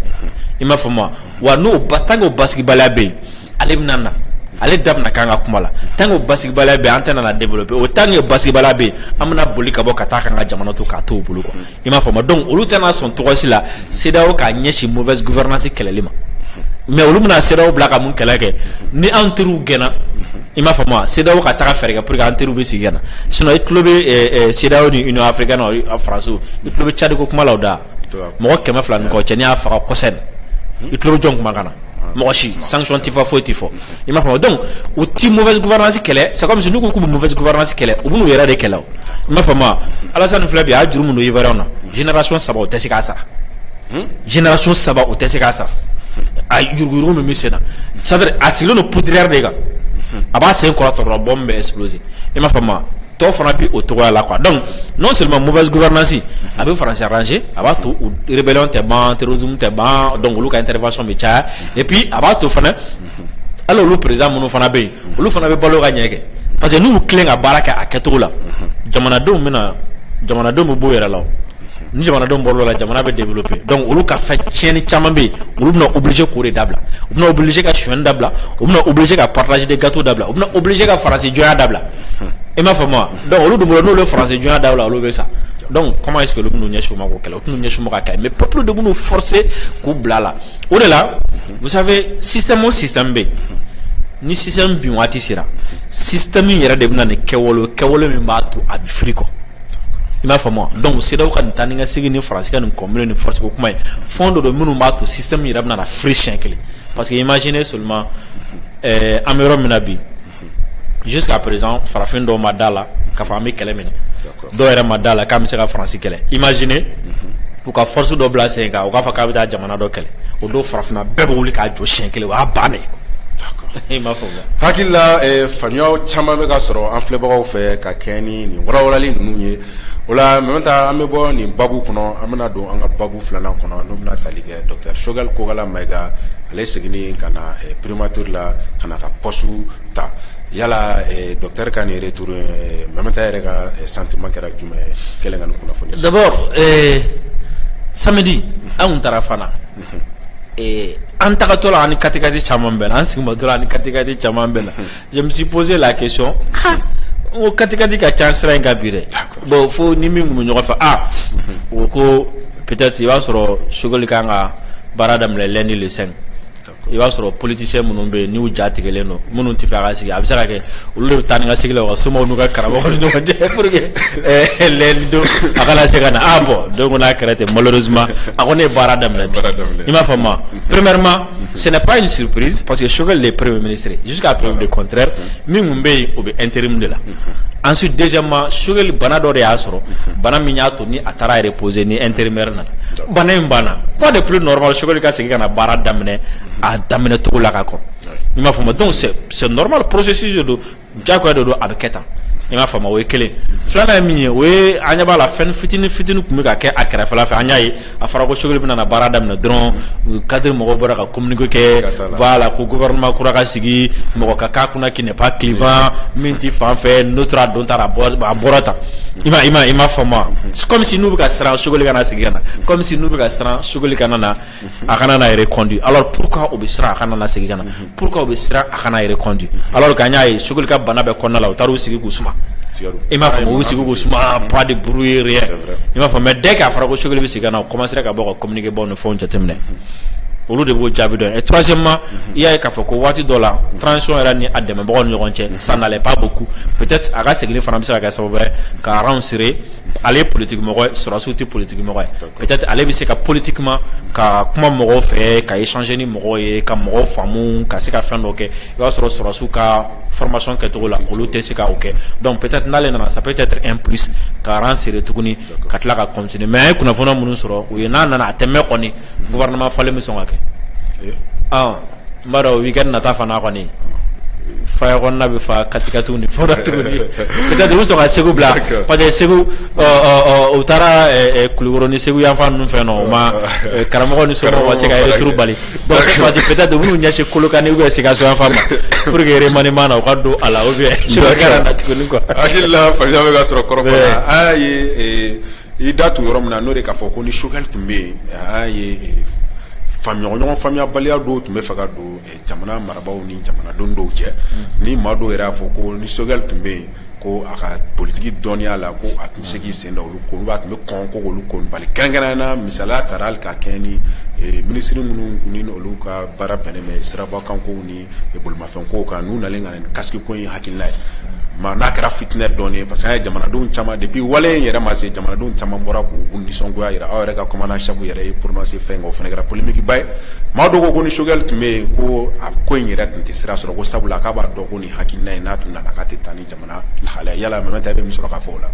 i m'a faamu wa wa ni tant que o basigibaliya bɛ yen ale bɛna na ale da bɛna k'an ka kuma la tant que o basigibaliya bɛ yen an tɛna na développer o tant que o basigibaliya bɛ yen an bɛna boli ka bɔ ka taa k'an ka jamana to k'a to u bolo quoi i m'a faamu donc olu tɛna sɔn cogo si la CEDEAO k'a ɲɛsin mauvaise gouvernance kɛlɛli ma mais olu bɛna CEDEAO bila ka mun kɛlɛ kɛ ni an teriw gɛnna i m'a faamu wa CEDEAO ka taga fɛɛrɛ kɛ pour que an teriw bɛ segin ka na sinon i tulo bɛ CEDEAO ni Union africaine na France i tulo bɛ Tchad ko kuma la o da mɔgɔ kɛmɛ fila ni kɔ cɛ nin y'a faga kɔsɛbɛ i tulo bɛ jɔn kumakan na mɔgɔ si sanction tɛ fɔ foyi tɛ fɔ. i m'a faamu donc u ti mauvaise gouvernance kɛlɛ c'est comme si n'u ko k'u bɛ mauvaise gouvernance kɛlɛ u b'u yɛrɛ de kɛlɛ o i m'a faamu Alassane filɛ bi a y'a juru min don Ivoirienw na génération saba o tɛ se k'a sara hmm? génération saba o tɛ se k'a sara a yuruguyurugu min bɛ sen na c'est à dire a sigilen don poudrière de kan a b'a sen kɔrɔta dɔrɔn bombe bɛ exploser i m'a faamu tɔw fana b'o cogoya la quoi donc non seulement mauvaise gouvernance a bɛ faransi arranger a b'a to rébellion tɛ ban terrorisme tɛ ban donc olu ka intervention bɛ caya et puis a b'a to fana hali olu président minnu fana bɛ yen olu fana bɛ balo ka ɲɛ kɛ parce que n'u tilen ka baara kɛ a kɛcogo la jamanadenw bɛna jamanadenw bɛ bɔ yɛrɛ la ni jamanadenw bɔr'o la jamana bɛ développer donc olu ka fɛn tiɲɛni caman bɛ yen olu bɛna obligé k'o de dabila u bɛna obligé ka sonyɛni dabila u bɛna obligé ka partage de gâteau dabila u bɛna obligé ka faransi jɔnya dabila i m'a faamu wa donc olu dun b'o dɔn n'olu ye faransi jɔnya dabila olu bɛ sa donc comment est ce que olu bɛn'u ɲɛsin o ma k'o kɛlɛ u tɛn'u ɲɛsin o ma k'a kɛlɛ mais peuple de b'u forcer k'u bila a la o de la Vous savez système o système bɛ yen ni système bin waati sera système in yɛrɛ de bɛna nin kɛwale kɛwale min b'a to a bɛ firi quoi i m'a faamu wa donc CEDEAO ka nin taa ni ka segin ni faransi ka nin ko minnu ni force ko kuma ye fɛn dɔ don minnu b'a to système yɛrɛ bɛna na firi siyɛn kelen parce que imaginez seulement an bɛ yɔrɔ min na bi Jusqu'à présent farafin dɔw ma da la k'a fɔ an bɛ kɛlɛ minɛ dɔw yɛrɛ ma da la k'an bɛ se ka faransi kɛlɛ imaginez u ka force dɔ bila sen kan u k'a fɔ k'an bɛ taa jamana dɔ kɛlɛ o don farafinna bɛɛ bɛ wuli k'a jɔ siyɛn kelen o y'a ban hakilila faamuya caman bɛ ka sɔrɔ an filɛbagaw fɛ ka kɛ ni nin walawalali ninnu ye o la maintenant an bɛ bɔ nin babu kɔnɔ an bɛna don an ka babu filanan kɔnɔ n'o bɛna tali kɛ docteur Choguel Kokalla Maïga ale seginni ka na Primature la ka na ka poste ta yala docteur ka nin retour in Mamata yɛrɛ ka sentiment kɛra jumɛn ye kɛlen ka nin kunnafoni sɔrɔ? D'abord ɛɛ samedi an tun taara Fana ɛɛ an tagatɔ la an ni katikati caman bɛnna an seginmatɔ la an ni katikati caman bɛnna je me suis posé la question ah n ko katikati ka ca sira in kan bi dɛ bon fo ni min tun bɛ ɲɔgɔn fɛ ah o ko peut-être i b'a sɔrɔ Choguel ka kan ka baara daminɛ lundi le 5 i b'a sɔrɔ politicien minnu bɛ yen n'u ja tigɛlen don minnu t'a fɛ a ka segin a bɛ se ka kɛ olu de bɛ taa ni ka segin na u ka somaw n'u ka karamɔgɔw ni ɲɔgɔn cɛ pour que eh, lundi don a kana se ka na ah bɔn donc n'a kɛra ten malheureusement a kɔni ye baara daminɛ bi i m'a faamu wa premièrement ce n'est pas une surprise parce que Choguel est premier ministre jusqu'à preuve du contraire min tun bɛ yen o bɛ intérim de la ensuite deuxièmement Choguel bana dɔ de y'a sɔrɔ bana min y'a ni a taara reposer ni intérimaire nana bana in banna quoi de plus normal Choguel ka segin ka na baara daminɛ a daminɛ cogo la ka kɔrɔ i m'a faamu wa donc c'est normal processus de don jagoya de don a bɛ kɛ tan i m'a faamu wa o ye kelen filanan ye min ye o ye an ɲɛ b'a la fɛn fitinin fitinin tun bɛ ka kɛ a kɛrɛfɛla fɛ an y'a ye a fɔra ko Choguel bɛna na baara daminɛ dɔrɔn cadre mɔgɔw bɔra ka communiqué kɛ voilà ko gouvernement kura ka sigi mɔgɔ ka k'a kunna qui n'est pas clivant min tɛ fan fɛ neutre a donna tan a bɔra tan I m'a i m'a i m'a faamu wa comme si n'u bɛ ka siran Choguel kana segin ka na comme si n'u bɛ ka siran Choguel kana na a kana na reconduit alors pourquoi u bɛ siran a kana na segin ka na pourquoi u bɛ siran a kana reconduit alors que an y'a ye Choguel ka bana bɛɛ kɔnɔna la u taar'u sigi k'u suma i m'a faamu u sigi k'u suma pas de bruit rien i m'a faamu mais dès que a fɔra ko Choguel bɛ segin ka na u commencera ka bɔ ka communiqué baw fɔ jateminɛ olu de b'o jaabi dɔn troisièmement i y'a ye k'a fɔ ko waati dɔ la transition yɛrɛ ni a dɛmɛbagaw ni ɲɔgɔn cɛ ça n'allait pas beaucoup peut-être a ka seginni fana bɛ se ka kɛ sababu ye ka rang serrer ale ye politique mɔgɔ ye sɔrɔdasiw tɛ politique mɔgɔ ye peut-être ale bɛ se ka politiquement ka kuma mɔgɔw fɛ ka échanger ni mɔgɔw ye ka mɔgɔw faamu ka se ka fɛn dɔ kɛ i b'a sɔrɔ sɔrɔdasiw ka formation kɛcogo la olu tɛ se ka o kɛ donc peut-être n'ale nana ça peut être un plus ka rang serrer tuguni ka tila ka cot mɛ a ye kunnafoni minnu sɔrɔ u ye n'a nana a tɛmɛ kɔni gma falen min sɔn ka kɛ n b'a dɔn u' kɛ nata fana kɔni fa bɛ fa katikati ni fɔ bɛ sɔn ka segu bila pa segu u taara kulu ni segu yanfan ninnu fɛ ma karamɔgɔ ni sɔrɔ ma se ka yɛrɛ tuuru bali donc cette fois ci peut être u b'u ɲɛsin Kolokani ou bien Sikaso yanfan ma pour que remaniement na u ka don a la ou bien Choguel kana na tuguni quoi hakili la faamuya bɛ ka sɔrɔ kɔrɔfɔ la a ye i da tugu yɔrɔ min na n'o de k'a fɔ ko ni Choguel tun bɛ yen an y'a ye faamuya ɲɔgɔn faamuyabaliya dɔw tun bɛ fɛ ka don jamana marabaaw ni jamanadenw dɔw cɛ ni maa dɔw yɛrɛ y'a fɔ ko ni Choguel tun bɛ yen ko a ka politiki dɔnniya la ko a tun bɛ se k'i sen da olu ko olu a tun bɛ kɔn ko olu ko bali kɛrɛnkɛrɛnnenya la misali tara hali ka kɛ ni eh, minisiri minnu ni olu ka baara bɛnnen bɛ sirabakanko ni eh, bolimafɛnko kan n'u nalen ka na ni kasiki ko in hakilina ye ma n'a kɛra fitinɛ dɔɔnin ye parce que an ye jamanadenw caman depuis wale in yɛrɛ ma se jamanadenw caman bɔra k'u nisɔngoya jira aw yɛrɛ ka commandant chef yɛrɛ y'i prononcer fɛn kan o fana kɛra polémique ba ye maa dɔw ko ko ni Choguel tun bɛ yen ko a ko in yɛrɛ tun tɛ sira sɔrɔ ko sabula k'a b'a dɔn ko nin hakilina in n'a tun nana k'a tɛ taa ni jamana lahalaya yala Mamɛdi bɛ min sɔrɔ k'a fɔ o la.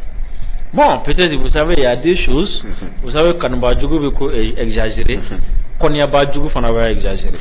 bon peut-être vous savez il y a deux choses mm-hmm. vous savez kanubaa jugu bɛ ko eh, exagérer mm-hmm. kɔniyabaa jugu fana bɛ exagérer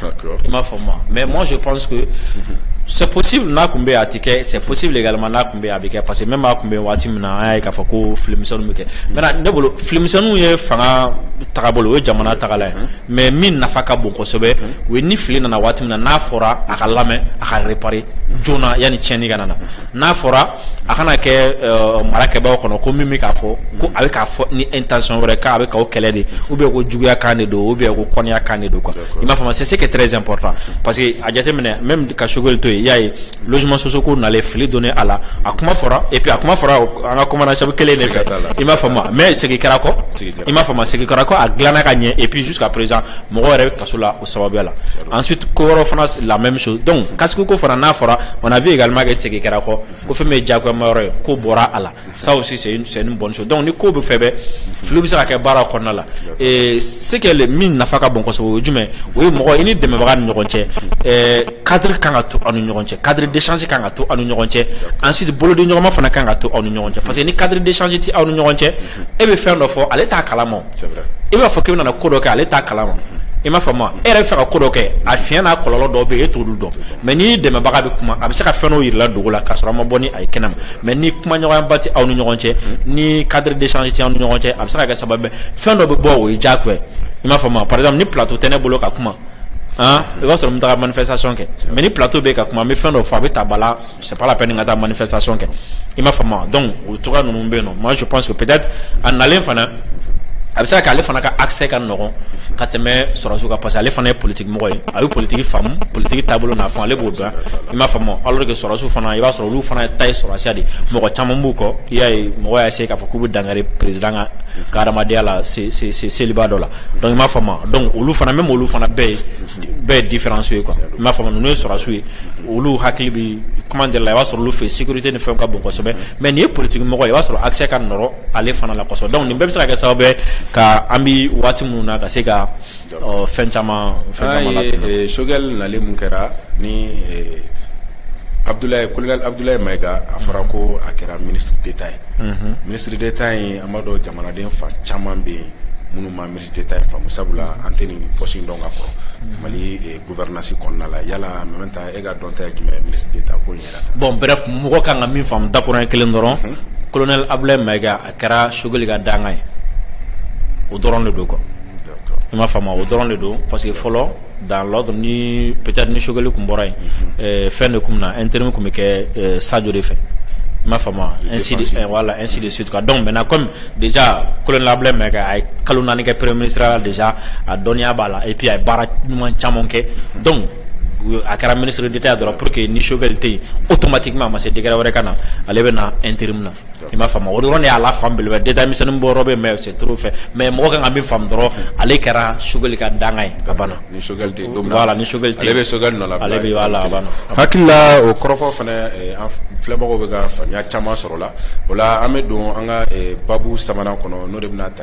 i m'a faamu wa mais moi je pense que mm-hmm. c'est possible n'a tun bɛ yen a tɛ kɛ c'est possible également n'a tun bɛ yen a bɛ kɛ parce que même a tun bɛ yen waati min na an y'a ye k'a fɔ ko filimisɛnninw bɛ kɛ maintenant ne bolo filimisɛnninw ye fanga tagabolo o ye jamana tagala ye. mais min nafa ka bon kosɛbɛ o ye ni fili nana waati min na n'a fɔra a ka lamɛn a ka réparer joona yanni tiɲɛni ka nana n'a fɔra a kana kɛ euh, marakɛbaaw kɔnɔ ko min bɛ k'a fɔ ko a bɛ k'a fɔ ni intention wɛrɛ k'a bɛ k'aw kɛlɛ de ou bien ko juguya kan de don ou bien ko kɔnniya kan de don quoi i m'a faamu c'est ce qui est très important parce que a jateminɛ même ka Sogɛli to yen i y'a ye logement social ko nalen fili donnen a la a kuma fɔra et puis a kuma fɔra an ka commandant chef kelen de fɛ i m'a faamu wa mais segin kɛra kɔ i m'a faamu segin kɛra kɔ a dilanna ka ɲɛ et puis jusqu'à présent mɔgɔ yɛrɛ bɛ kaso la o sababuya la ensuite ko wɛrɛw fana la même chose donc casque ko fana n'a fɔra on a vu également que segin kɛra kɔ ko fɛn min ye diyagoyama yɔrɔ ye k'o bɔra a la ça aussi c'est une c'est une bonne chose donc ni ko bɛɛ fɛn bɛɛ filiw bɛ se ka kɛ baara kɔnɔna la et ce que le min nafa ka bon kosɛbɛ o ye jumɛn o ye mɔgɔ i n'i dɛmɛbaga ni ɲɔgɔn cɛ ɛɛ cadre kan ka to aw ni ɲɔgɔn cɛ cadre d'échange kan ka to aw ni ɲɔgɔn cɛ ensuite bolodiɲɔgɔnma fana kan ka to aw ni ɲɔgɔn cɛ parce que ni cadre d'échange tɛ aw ni ɲɔgɔn cɛ e bɛ fɛn dɔ fɔ ale t'a kalama i b'a fɔ k'i bɛna na ko dɔ kɛ ale t'a kalama i m'a faamu e yɛrɛ bɛ fɛ ka ko dɔ kɛ a fiɲɛ n'a kɔlɔlɔ dɔw bɛ yen e t'olu dɔn mais n'i dɛmɛbaga bɛ kuma a bɛ se ka fɛn dɔw yira i la dogo la k'a sɔrɔ a ma bɔ ni a ye kɛnɛ ma mais ni kumaɲɔgɔnyaba tɛ aw ni ɲɔgɔn cɛ ni cadre d'échange tɛ aw ni ɲɔgɔn cɛ a bɛ se ka kɛ sababu fɛn dɔ bɛ bɔ o ye diyagoya i m'a faamu par exemple ni plateau tɛ ne bolo ka kuma i b'a sɔrɔ n bɛ taga manifestation kɛ mais ni plateau bɛ ka kuma n bɛ fɛn dɔ fɔ a bɛ ta ba la c'est pas la peine n ka taa manifestation kɛ i m'a faamu donc o cogoya ninnu bɛ yen nɔ moi je pense que peut-être a nalen fana a bɛ se ka kɛ ale fana ka accès ka nɔgɔn ka tɛmɛ sɔrɔsiw kan parce que ale fana ye politique mɔgɔ ye a bɛ politique faamu politique taabolo n'a faamu ale b'o dɔn i m'a faamu alors que sɔrɔsiw fana i b'a sɔrɔ olu fana ta ye sɔrɔsiya de ye mɔgɔ caman b'u kɔ i y'a ye mɔgɔ y'a essayer k'a fɔ k'u bɛ dankari président ka ka hadamadenya la se se se seliba dɔ la donc i m'a faamu donc olu fana même olu fana bɛɛ ye bɛɛ ye différence ye quoi i m'a faamu wa ninnu ye sɔrɔsiw ye olu hakili bɛ kuma de la i b'a sɔrɔ olu fɛ sécurité ni fɛnw ka bon kosɛbɛ mais nin ye politique mɔgɔ ye i b'a sɔrɔ accès ka nɔgɔn ale fana la kosɛbɛ donc nin bɛɛ bɛ se ka kɛ sababu ye ka an bɛ waati minnu na ka se ka fɛn caman fɛn Sogɛli nalen min kɛra ni colonel Abudulayi Mayiga a fɔra ko a kɛra minisiri d'Etat ye minisiri d'Etat ye an b'a dɔn jamanaden fan caman bɛ yen minnu ma minisiri d'Etat ye faamu sabula an tɛ nin pɔsi in dɔn ka kɔrɔ Mali eh, gouvernance kɔnɔna la yala Mɛmɛn Taha e ka dɔnta ye jumɛn ye minisiri d'Etat ko in yɛrɛ kan bon bref mɔgɔ kan ka min faamu dakurunɲɛ kelen dɔrɔn mhm. colonel Abulayi Mayiga a kɛra Sogɛli ka dankan ye o dɔrɔn de don quoi i m'a faamu wa o dɔrɔn de don parce que fɔlɔ dan ni pta ni sokɛkali tun bɔra yen fɛn de tun na n teri min tun bɛ kɛ sajo de fɛ n b'a fa nsidi de sutu dɔn mɛ na kɔmi de kolonlabila mɛn kɛ a ye kalo naani kɛ pere mini sira de a dɔnniya b'a la api a ye baara ɲuman caman kɛ dɔn a kɛra minisiriri de dɔrɔn pur que ni sokɛkali tɛ yen o tɔma tigi ma ma se dgɛrɛ wɛrɛ ka na ale bɛ na n terir min na i m'a faamu o dɔrɔn de y'a la fan belebeleba ye détail misɛnnin bɔ yɔrɔ bɛ yen mais c'est trop fɛ mais mɔgɔ kan ka min faamu dɔrɔn ale kɛra Choguel ka dankan ye a banna ni Choguel tɛ yen don min na voilà ni Choguel tɛ yen ale bɛ Choguel nɔlabila ale bɛ voilà a banna hakili la o kɔrɔfɔ fana eh, an filɛbagaw bɛ ka faamuya caman sɔrɔ o la o la an bɛ don an ka eh, baabu sabanan kɔnɔ n'o de bɛna ta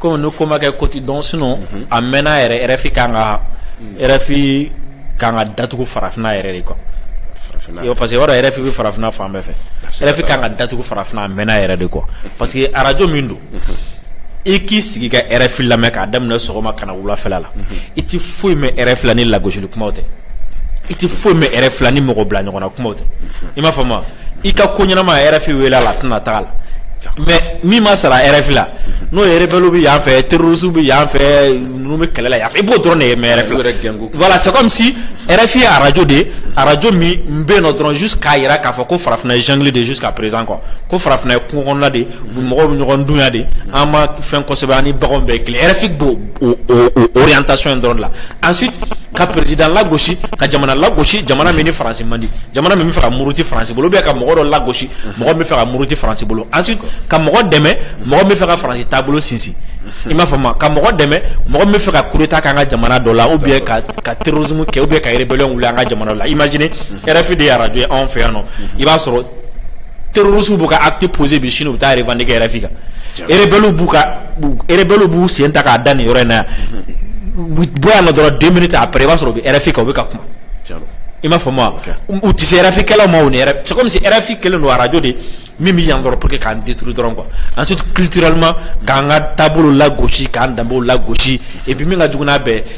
Kɔmi ni kuma kɛ koti dɔn sinon a mɛnna yɛrɛ RFI ka kan ka RFI ka kan ka datugu farafinna yɛrɛ de quoi parce que yɛrɛ RFI bɛ farafinna fan bɛɛ fɛ RFI ka kan ka datugu farafinna a mɛnna yɛrɛ de quoi parce que arajo min don i k'i sigi ka RFI lamɛn k'a daminɛ sɔgɔma ka na wulafɛ la i tɛ foyi mɛn RFI la ni lagosili kuma tɛ i tɛ foyi mɛn RFI la ni mɔgɔ bila ɲɔgɔn na kumaw tɛ i m'a faamu i ka ko ɲɛnama RFI wele a la a tɛna taa a la mais min mana sara RFI la n'o ye rebelle bɛ yan fɛ terroriste bɛ yan fɛ ninnu bɛ kɛlɛ la yan fɛ i b'o dɔrɔn de mɛn RFI la voilà c'est comme si RFI ye arajo de ye arajo min bɛ yen nɔ dɔrɔn juste k'a jira k'a fɔ ko farafinna ye jungle de ye jusqu'à présent quoi ko farafinna ye kungo kɔnɔna de ye mɔgɔw bɛ ɲɔgɔn dun yan de an ma fɛn kosɛbɛ an ni baganw bɛɛ kelen RFI b'o o o orientation in dɔrɔn de la ensuite ka président lagosi ka jamana lagosi jamana min ni faransi man di jamana min bɛ fɛ ka muruti faransi bolo ou bien ka mɔgɔ dɔ lagosi mɔgɔ min bɛ fɛ ka muruti faransi bolo ensuite ka mɔgɔ dɛmɛ mɔgɔ min bɛ fɛ ka faransi taabolo sinsin i m'a faamu ka mɔgɔ dɛmɛ mɔgɔ min bɛ fɛ ka coup d'état kɛ an ka jamana dɔ la ou bien ka ka terrorisme kɛ ou bien ka rébellion wuli an ka jamana dɔ la imagine RFI de ye arajo ye anw fɛ yan nɔ i b'a sɔrɔ terroriste b'u ka acte posé bi sini u bɛ taa revendiquer RFI kan rebelles b'u ka rebelles b'u sen ta k'a da nin yɔrɔ in na yan u bɔ yan nɔ dɔrɔn deux minutes après i b'a sɔrɔ u bɛ RFI kan u bɛ ka kuma i m'a faamu wa u tɛ se RFI kɛlaw ma o ni c'est comme si RFI kɛlen don arajo de min bɛ yan dɔrɔn pour que k'an détruire dɔrɔn quoi ensuite culturellement k'an ka taabolo lagosi k'an danbew lagosi et puis min ka jugu n'a bɛɛ ye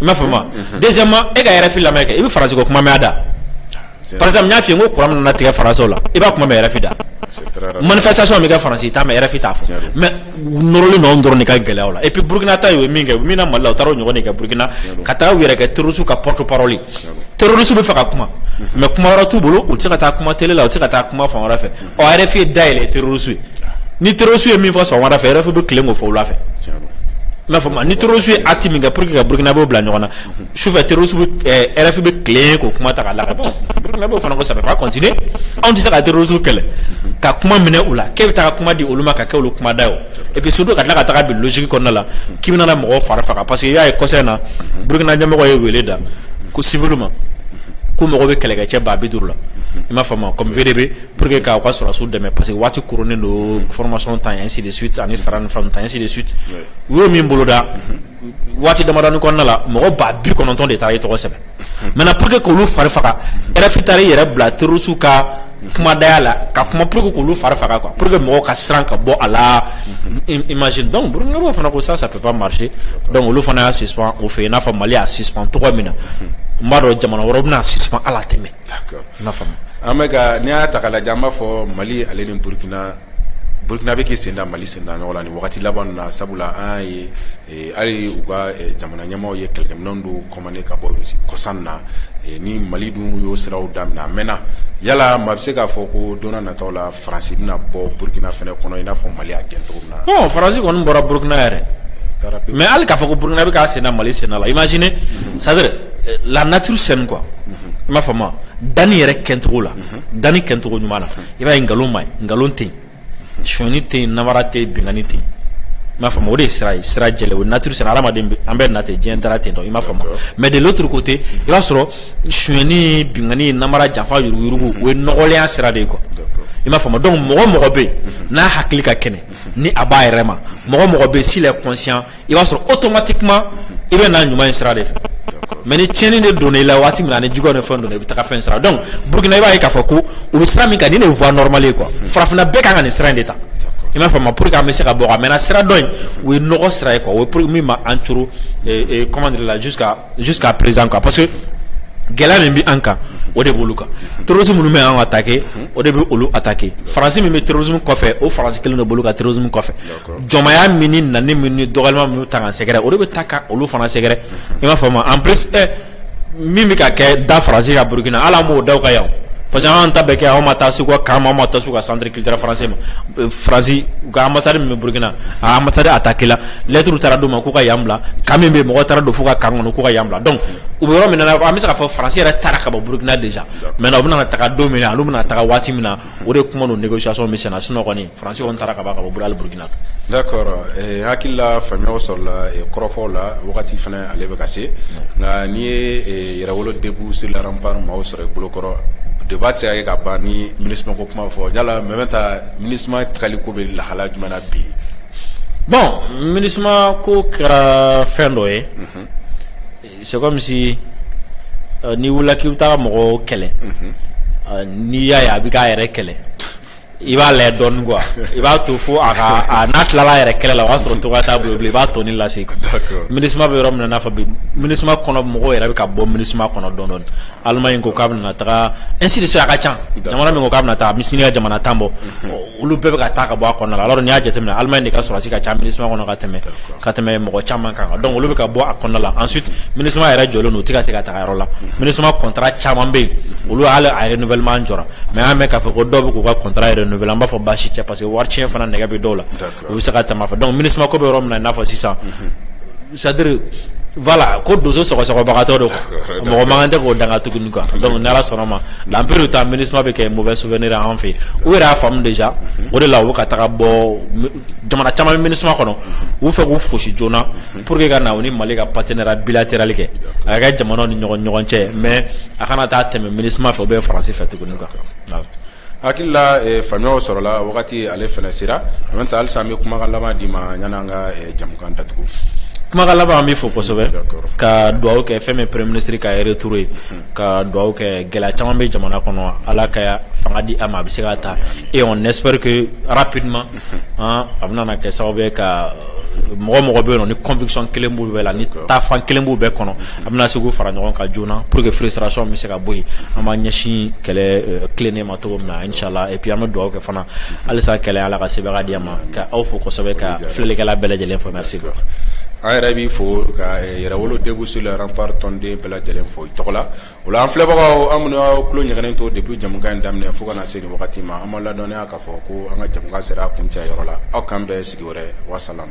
i m'a faamu wa deuxièmement e ka RFI lamɛn kɛ i bɛ faransi ko kuma mɛn a da par exemple n y'a f'i ye n ko courant bɛna tigɛ faransiw la i b'a kuma mɛn RFI da manifestation bɛ kɛ faransi i t'a mɛn RFI t'a fɔ mais u nɔrɔlen don anw dɔrɔn de ka gɛlɛyaw la et puis Burkina ta ye u ye min kɛ u min na Mali la u taara o ɲɔgɔn de kɛ Burkina ka taa u yɛrɛ kɛ terroriste ka porte parole terroriste bɛ fɛ ka kuma mais kuma yɔrɔ t'u bolo u tɛ se ka taa kuma télé la u tɛ se ka taa kuma fan wɛrɛ fɛ ɔ rfi ye dayɛlɛ terorisiw ye ni terorisiw ye min fɔ sɔgɔmada fɛ rfi bɛ tilen k'o fɔ wula fɛ i m'a faamu ni terorisiw ye acte min kɛ pour que ka burukinabew bila ɲɔgɔn na sufɛ terorisiw bɛ rfi bɛ tilen k'o kuma ta ka laga bon burukinabew fana ko ça peut pas continuer anw tɛ se ka terorisiw kɛlɛ ka kuma minɛ u la k'e bɛ taa kuma di olu ma ka kɛ olu kumada ye o et puis surtout ka tila ka taga bi logique kɔnɔna la k'i bɛna na mɔgɔw fari faga parce que i y'a ye kɔsa in na burukina ɲɛmɔgɔ ye wele da ko civilw ma ko mago bɛ kɛlɛkɛcɛ ba bi duuru la i m'a faamu comme VDP pour que k'aw ka sɔrɔdasiw dɛmɛ parce que waati koronnen don formation tan ainsi de suite ani sara ni fɛnw tan ainsi de suite u y'o min boloda waati damadɔni kɔnɔna la mɔgɔ ba bi kɔnɔntɔn de taara i tɔgɔ sɛbɛn maintenant pour que k'olu fari faga RFI taara i yɛrɛ bila terrorisiw ka kumadaya la ka kuma pour que k'olu fari faga quoi pour que mɔgɔw ka siran ka bɔ a la imagine donc burukinabew fana ko ça ça peut pas marcher donc olu fana y'a suspend u fɛ yen i n'a fɔ Mali y'a suspend cogo min na n b'a dɔn jamana wɛrɛw bɛna suspend hali a tɛ mɛn an bɛ ka n'i y'a ta k'a lajɛ an b'a fɔ Mali ale ni Burukina, Burukina bɛ k'i senda Mali senda nɔ la nin wagati laban ninnu na sabula an y'a ye ɛ hali u ka jamana ɲɛmaaw ye kɛlɛkɛminɛnw dɔw commander ka bɔ Russie kɔsa in na ni Mali dun y'o siraw daminɛ a mɛɛna yala maa bɛ se k'a fɔ ko don n'a nataw la France bɛna bɔ Burukina fana kɔnɔ i n'a fɔ Mali y'a gɛn cogo min na? Bon France kɔni bɔra Burukina yɛrɛ, mais hali k'a fɔ ko Burukina bɛ k'a senda Mali senda la imagine c'est à dire la nature saine quoi i m'a faamu danni yɛrɛ kɛcogo la danni kɛcogo ɲuman na i b'a ye nkalon ma nkalon tɛ sonyani tɛ namara tɛ binkanni tɛ i m'a faamu o de sira sira jɛ o nature saine hadamaden an bɛ natɛ diɲɛ da ten don i m'a faamu mais de l'autre côté i b'a sɔrɔ sonyani binkanni namara janfa yuruguyurugu o ye nɔgɔlenya sira de ye quoi i m'a faamu donc mɔgɔ mɔgɔ bɛɛ n'a hakili ka kɛnɛ ni a b'a yɛrɛ ma mɔgɔ mɔgɔ bɛɛ s'il est conscient i b'a sɔrɔ automatiquement i bɛ na ɲuman in sira de fɛ mais ni tiɲɛni de donna i la waati min na ni juguya ni fɛn donna i bɛ taga fɛn sira donc burukina i b'a ye k'a fɔ ko u bɛ sira min kan nin de ye voie normale ye quoi farafinna bɛɛ kan ka nin sira in de ta i m'a faamu pour que an bɛ se ka bɔ a maintenant sira dɔ in o ye nɔgɔ sira ye quoi o ye pour min ma an coron comment dire là jusqu'à jusqu'à présent quoi parce que gɛlɛya min bɛ an kan o de b'olu kan terrorisme minnu bɛ an attaquer o de bɛ olu attaquer faransi min bɛ terrorisme kɔfɛ o faransi kelen de b'olu ka terrorisme kɔfɛ. Jɔnmaya min ni ɲani min ni dɔgɔya min taa an sɛgɛrɛ o bɛ taa ka olu fana sɛgɛrɛ i m'a faamu en plus min bɛ ka kɛ da faransi kan burukina ala m'o da u kan yan parce que an ta bɛ kɛ anw ma taa se u ka camp ma taa se u ka centre culturel français ma faransi u ka ambassade min bɛ burukina a ambassade attaqué lɛturu taara d'u ma k'u ka yan bila camp min bɛ mɔgɔ taara don fo u ka camp kɔnɔ k'u ka yan bila donc u bɛ yɔrɔ min na an bɛ se ka fɔ faransi yɛrɛ taara ka bɔ burukina déjà maintenant u bɛna taga don min na olu bɛna taga waati min na o de kuma don négociation min na sunɔgɔ Fransi taara ka ka bɔli burukina d'accord hakilila faamuyaw sɔrɔla kɔrɔfɔw la wagati fana ale bɛ ka se nka n'i ye Yɛrɛwolo debout sur les remparts maaw sɔrɔ i bolokɔrɔ débat tɛ se ka kɛ ka ban ni MINUSMA ko kuma fɔ yala Mɛmɛta MINUSMA tagali ko bɛ lahala jumɛn na bi bon MINUSMA ko kɛra fɛn dɔ ye c'est comme si n'i wulila k'i bɛ taa mɔgɔw kɛlɛ n'i y'a ye a bɛ k'a yɛrɛ kɛlɛ i b'a lajɛ dɔɔni quoi i b'a to fo a ka a n'a tilala a yɛrɛ kɛlɛ la o y'a sɔrɔ cogoya t'a bolo bilen i b'a tɔni lase quoi d'accord MINUSMA bɛ yɔrɔ min na i n'a fɔ bi MINUSMA kɔnɔ mɔgɔw yɛrɛ bɛ ka bɔ MINUSMA kɔnɔ dɔɔni dɔɔni Allemagne ko k'a bɛna taga ainsi de suite a ka ca jamana min ko k'a bɛna taga sini ka jamana tan bɔ olu bɛɛ bɛ ka taa ka bɔ a kɔnɔna la alors n'i y'a jateminɛ Allemagne de ka sɔrɔdasi ka ca MINUSMA kɔnɔ ka tɛmɛ ka tɛmɛ mɔgɔ caman kan donc olu bɛ ka bɔ a kɔnɔna la ensuite MINUSMA yɛrɛ jɔlen don u tɛ ka se ka taga yɔrɔ la MINUSMA contrat caman bɛ yen olu hali a renouvellement jɔra mais an y'a mɛn k'a fɔ ko dɔw bɛ k'u ka contrat renouveler an b'a fɔ baasi tɛ parce que wari tiɲɛ fana nɛgɛ bɛ dɔw la u bɛ se ka tɛmɛ a fɛ donc MINUSMA ko bɛ yɔrɔ min na i n'a fɔ sisan c'est-à-dire voilà ko donso sɔgɔsɔgɔbagatɔ don mɔgɔ mako tɛ k'o danga tuguni quoi donc ni ala sɔnna ma dans peu de temps MINUSMA bɛ kɛ mauvais souvenir an fɛ u yɛrɛ y'a faamu déjà o de la u bɛ ka taga bɔ jamana caman MINUSMA kɔnɔ u fɛ k'u fosi joona Pour que ka na u ni Mali ka partenariat bilatéral kɛ a ka kɛ jamanaw ni ɲɔgɔn ɲɔgɔn cɛ mais a kana taa tɛmɛ Minusma fɛ ou bien France fɛ tuguni quoi voilà hakilila eh, faamuyaw sɔrɔla wagati ale fana sera en même temps halisa an bɛ kumakan laban d'i ma yanni an ka eh, jamukan datugu kumakan laban an b'i fo kosɛbɛ ka dugawu kɛ fɛn min premier ministre ka retour ye ka dugawu kɛ gɛlɛya caman bɛ jamana kɔnɔ ala ka fanga di a ma a bɛ se k'a ta et on espère que rapidement a bɛna kɛ sababu ye ka mɔgɔ o mɔgɔ bɛ yen nɔ ni conviction kelen b'u bɛɛ la ni taafan kelen b'u bɛɛ kɔnɔ a bɛna se k'u fara ɲɔgɔn kan joona pur que frustration bɛ se ka bɔ yen an b'a ɲɛsin kɛlɛ tilennen ma cogo min na inchallah et puis an bɛ dugawu kɛ fana halisa kɛlɛ ala ka sebagaya di a ma k'aw fo kosɛbɛ ka filɛlikɛla bɛɛ lajɛlen fo merci an yɛrɛ b'i fo ka Yɛrɛwolo debout sur les remparts tɔnden bɛɛ lajɛlen fo i tɔgɔ la O la an filɛbagaw an minnu y'aw tulo ɲɛgɛnnen to depuis jamukan in daminɛ fo ka na se nin wagati ma an b'aw ladɔnniya k'a fɔ ko an ka jamukan sera a kuncɛyɔrɔ la aw k'an bɛn sigi wɛrɛ wasalam